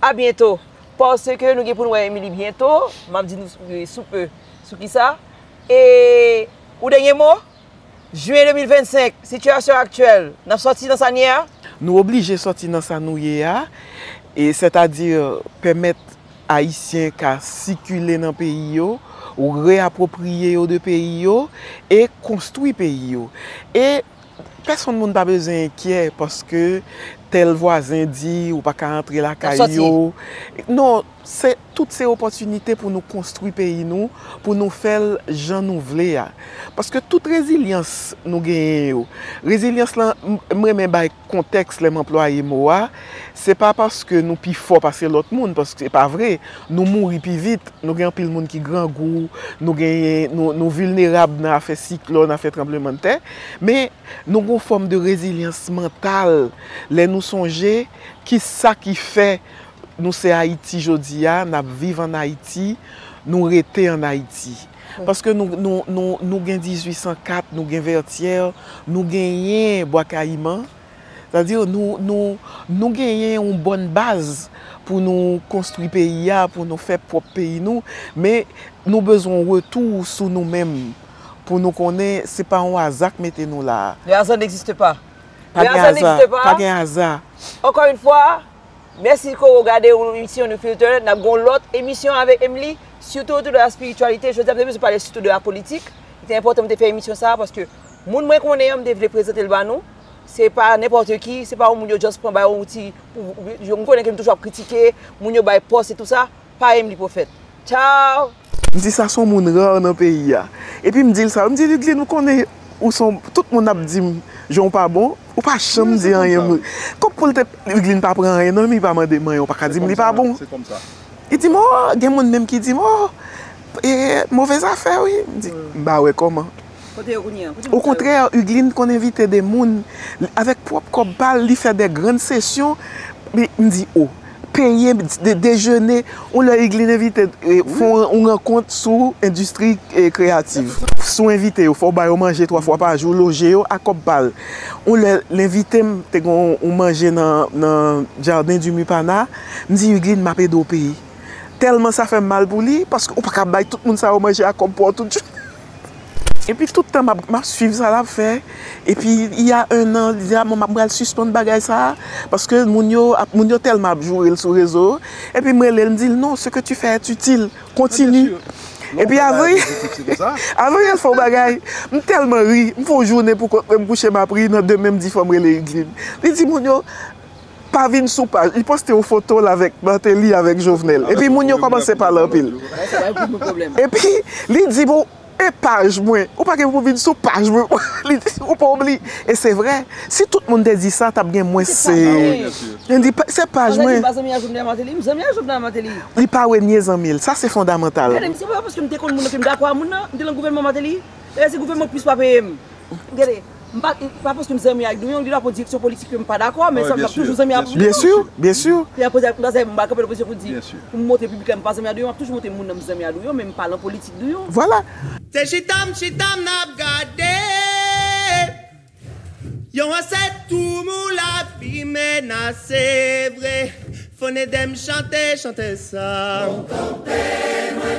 A: a byento. Paske nou gen pou nou wè Emili byento, m ap di nou sou pe. Sou kisa? E ou dènye mo? Juin 2025, Sitiyasyon aktyèl, N ap sòti nan sa n ye a? Nou oblije
B: sòti nan sa nou ye a, sètadi pèmèt Ayisyen ka sikile nan peyi yo, reapwopriye yo de peyi yo e konstwi peyi yo. E pèsonn moun pa bezwen enkyè paske tèl vwazen di ou pa ka antre lakay yo. N ap sòti. Non. Se tout se opòtinite pou nou konstwi peyi nou, pou nou fè l jan nou vle a. Paske tout rezilyans nou genyen yo, rezilyans lan, m renmen bay kontèks lè m anplwaye mo a, se pa paske nou pi fò pase lòt moun, paske se pa vre, nou mouri pi vit, nou gen anpil moun ki grangou, nou genyen, nou vilnerab nan afè siklòn, afè tranblemanntè, men nou gen yon fòm de rezilyans mantal lè nou sonje ki sa ki fè Nou se Ayiti jodi a, n ap viv an Ayiti, nou rete an Ayiti. Paske nou gen 1804, nou gen Vètyè, nou genyen Bwa Kayiman, sa di nou genyen yon bòn baz pou nou konstwi peyi a, pou nou fè pwòp peyi nou, men nou bezwen yon retou sou nou menm pou nou konnen se pa yon aza k mete nou la a. Le hasard n'existe pas. Pa gen aza. Ankò yon fwa.
A: Mèsi koro gade yon emisyon de filter nap gen yon lòt emisyon avèk Emily sitou tou de la spiritualité jodi a m te bezwen pale sitou de la politik li te enpòtan m te fè emisyon sa paske moun mwen konnen an m te vle prezante l ba nou se pa nenpòte ki se pa yon moun yo just pran bay yon ti m konnen ke m toujou ap kritike moun yo bay pòs e tou sa pa Emily Prophète Ciao. M di sa son
B: moun rare nan peyi a. Epi m di l sa, m di Ludlin ou konnen ou son, tout moun ap di m jan w pa bon, ou pa janm di anyen m. Kòm pou l te, Ludlin pa pran anyen nan men li pa mande m anyen ou pa ka di m li pa bon. Li
C: di m oh,
B: gen moun menm ki di m oh, move zafè wi. M di, m pa wè kòman. Okontrè, Hugueline konn envite de moun, avèk pwòp kòb pa l, li fè de grann sesyon, m di o, peye de dejene, yon lè Hugueline envite fè yon rankont sou endistri kreyativ. Si w envite yo, fò w ba yo manje twa fwa pa jou, loje yo ak kòb pa l. Yon lè l envite m, te gen yon manje nan Jardin du Mupana, m di Hugueline m ap ede w peye. Tèlman sa fè m mal pou li, paske ou pa ka bay tout moun sa yo manje ak kòb pa w tout jounen. Epi tout tan m ap swiv sa l ap fè, epi il ya un an li di a bon m pral sispann bagay sa a, paske moun yo ap moun yo tèlman ap joure l sou rezo, epi m rele l m di l non ce que tu fais est utile, continue. Epi avan avan yo fè yon bagay m tèlman ri, m fè yon jounen poukont mwen m kouche m ap ri nan demen m di fò m rele Hugline, li di moun yo. pa vin sou paj li poste yon foto l avèk Martelly avèk Jovenel epi moun yo kòmanse pale anpil epi li di bon e paj mwen ou pa gen pou vin sou paj mwen li di ou pa oubli e se vrè si tout moun te di sa tap gen mwens moun di se paj mwen li pa renye zanmi l sa se fondamantal.
A: Pa paske m zanmi ak Douyon, li la pou direksyon politik ke m pa dakò, men sa m ap toujou zanmi ak Douyon. Byen si, byen
B: si. Lè a poze ak m konsèy, m ba
A: kanpe nan pozisyon pou di, pou m montre piblik la m pa zanmi ak Douyon, m ap toujou montre moun nan m zanmi ak Douyon, men m pa lan politik Douyon. Vwala!
B: Se chita
D: m chita m ap gade yon ansèt toumou lavi menase vre Fon edem chante chante sa. Fon kanpe mwen.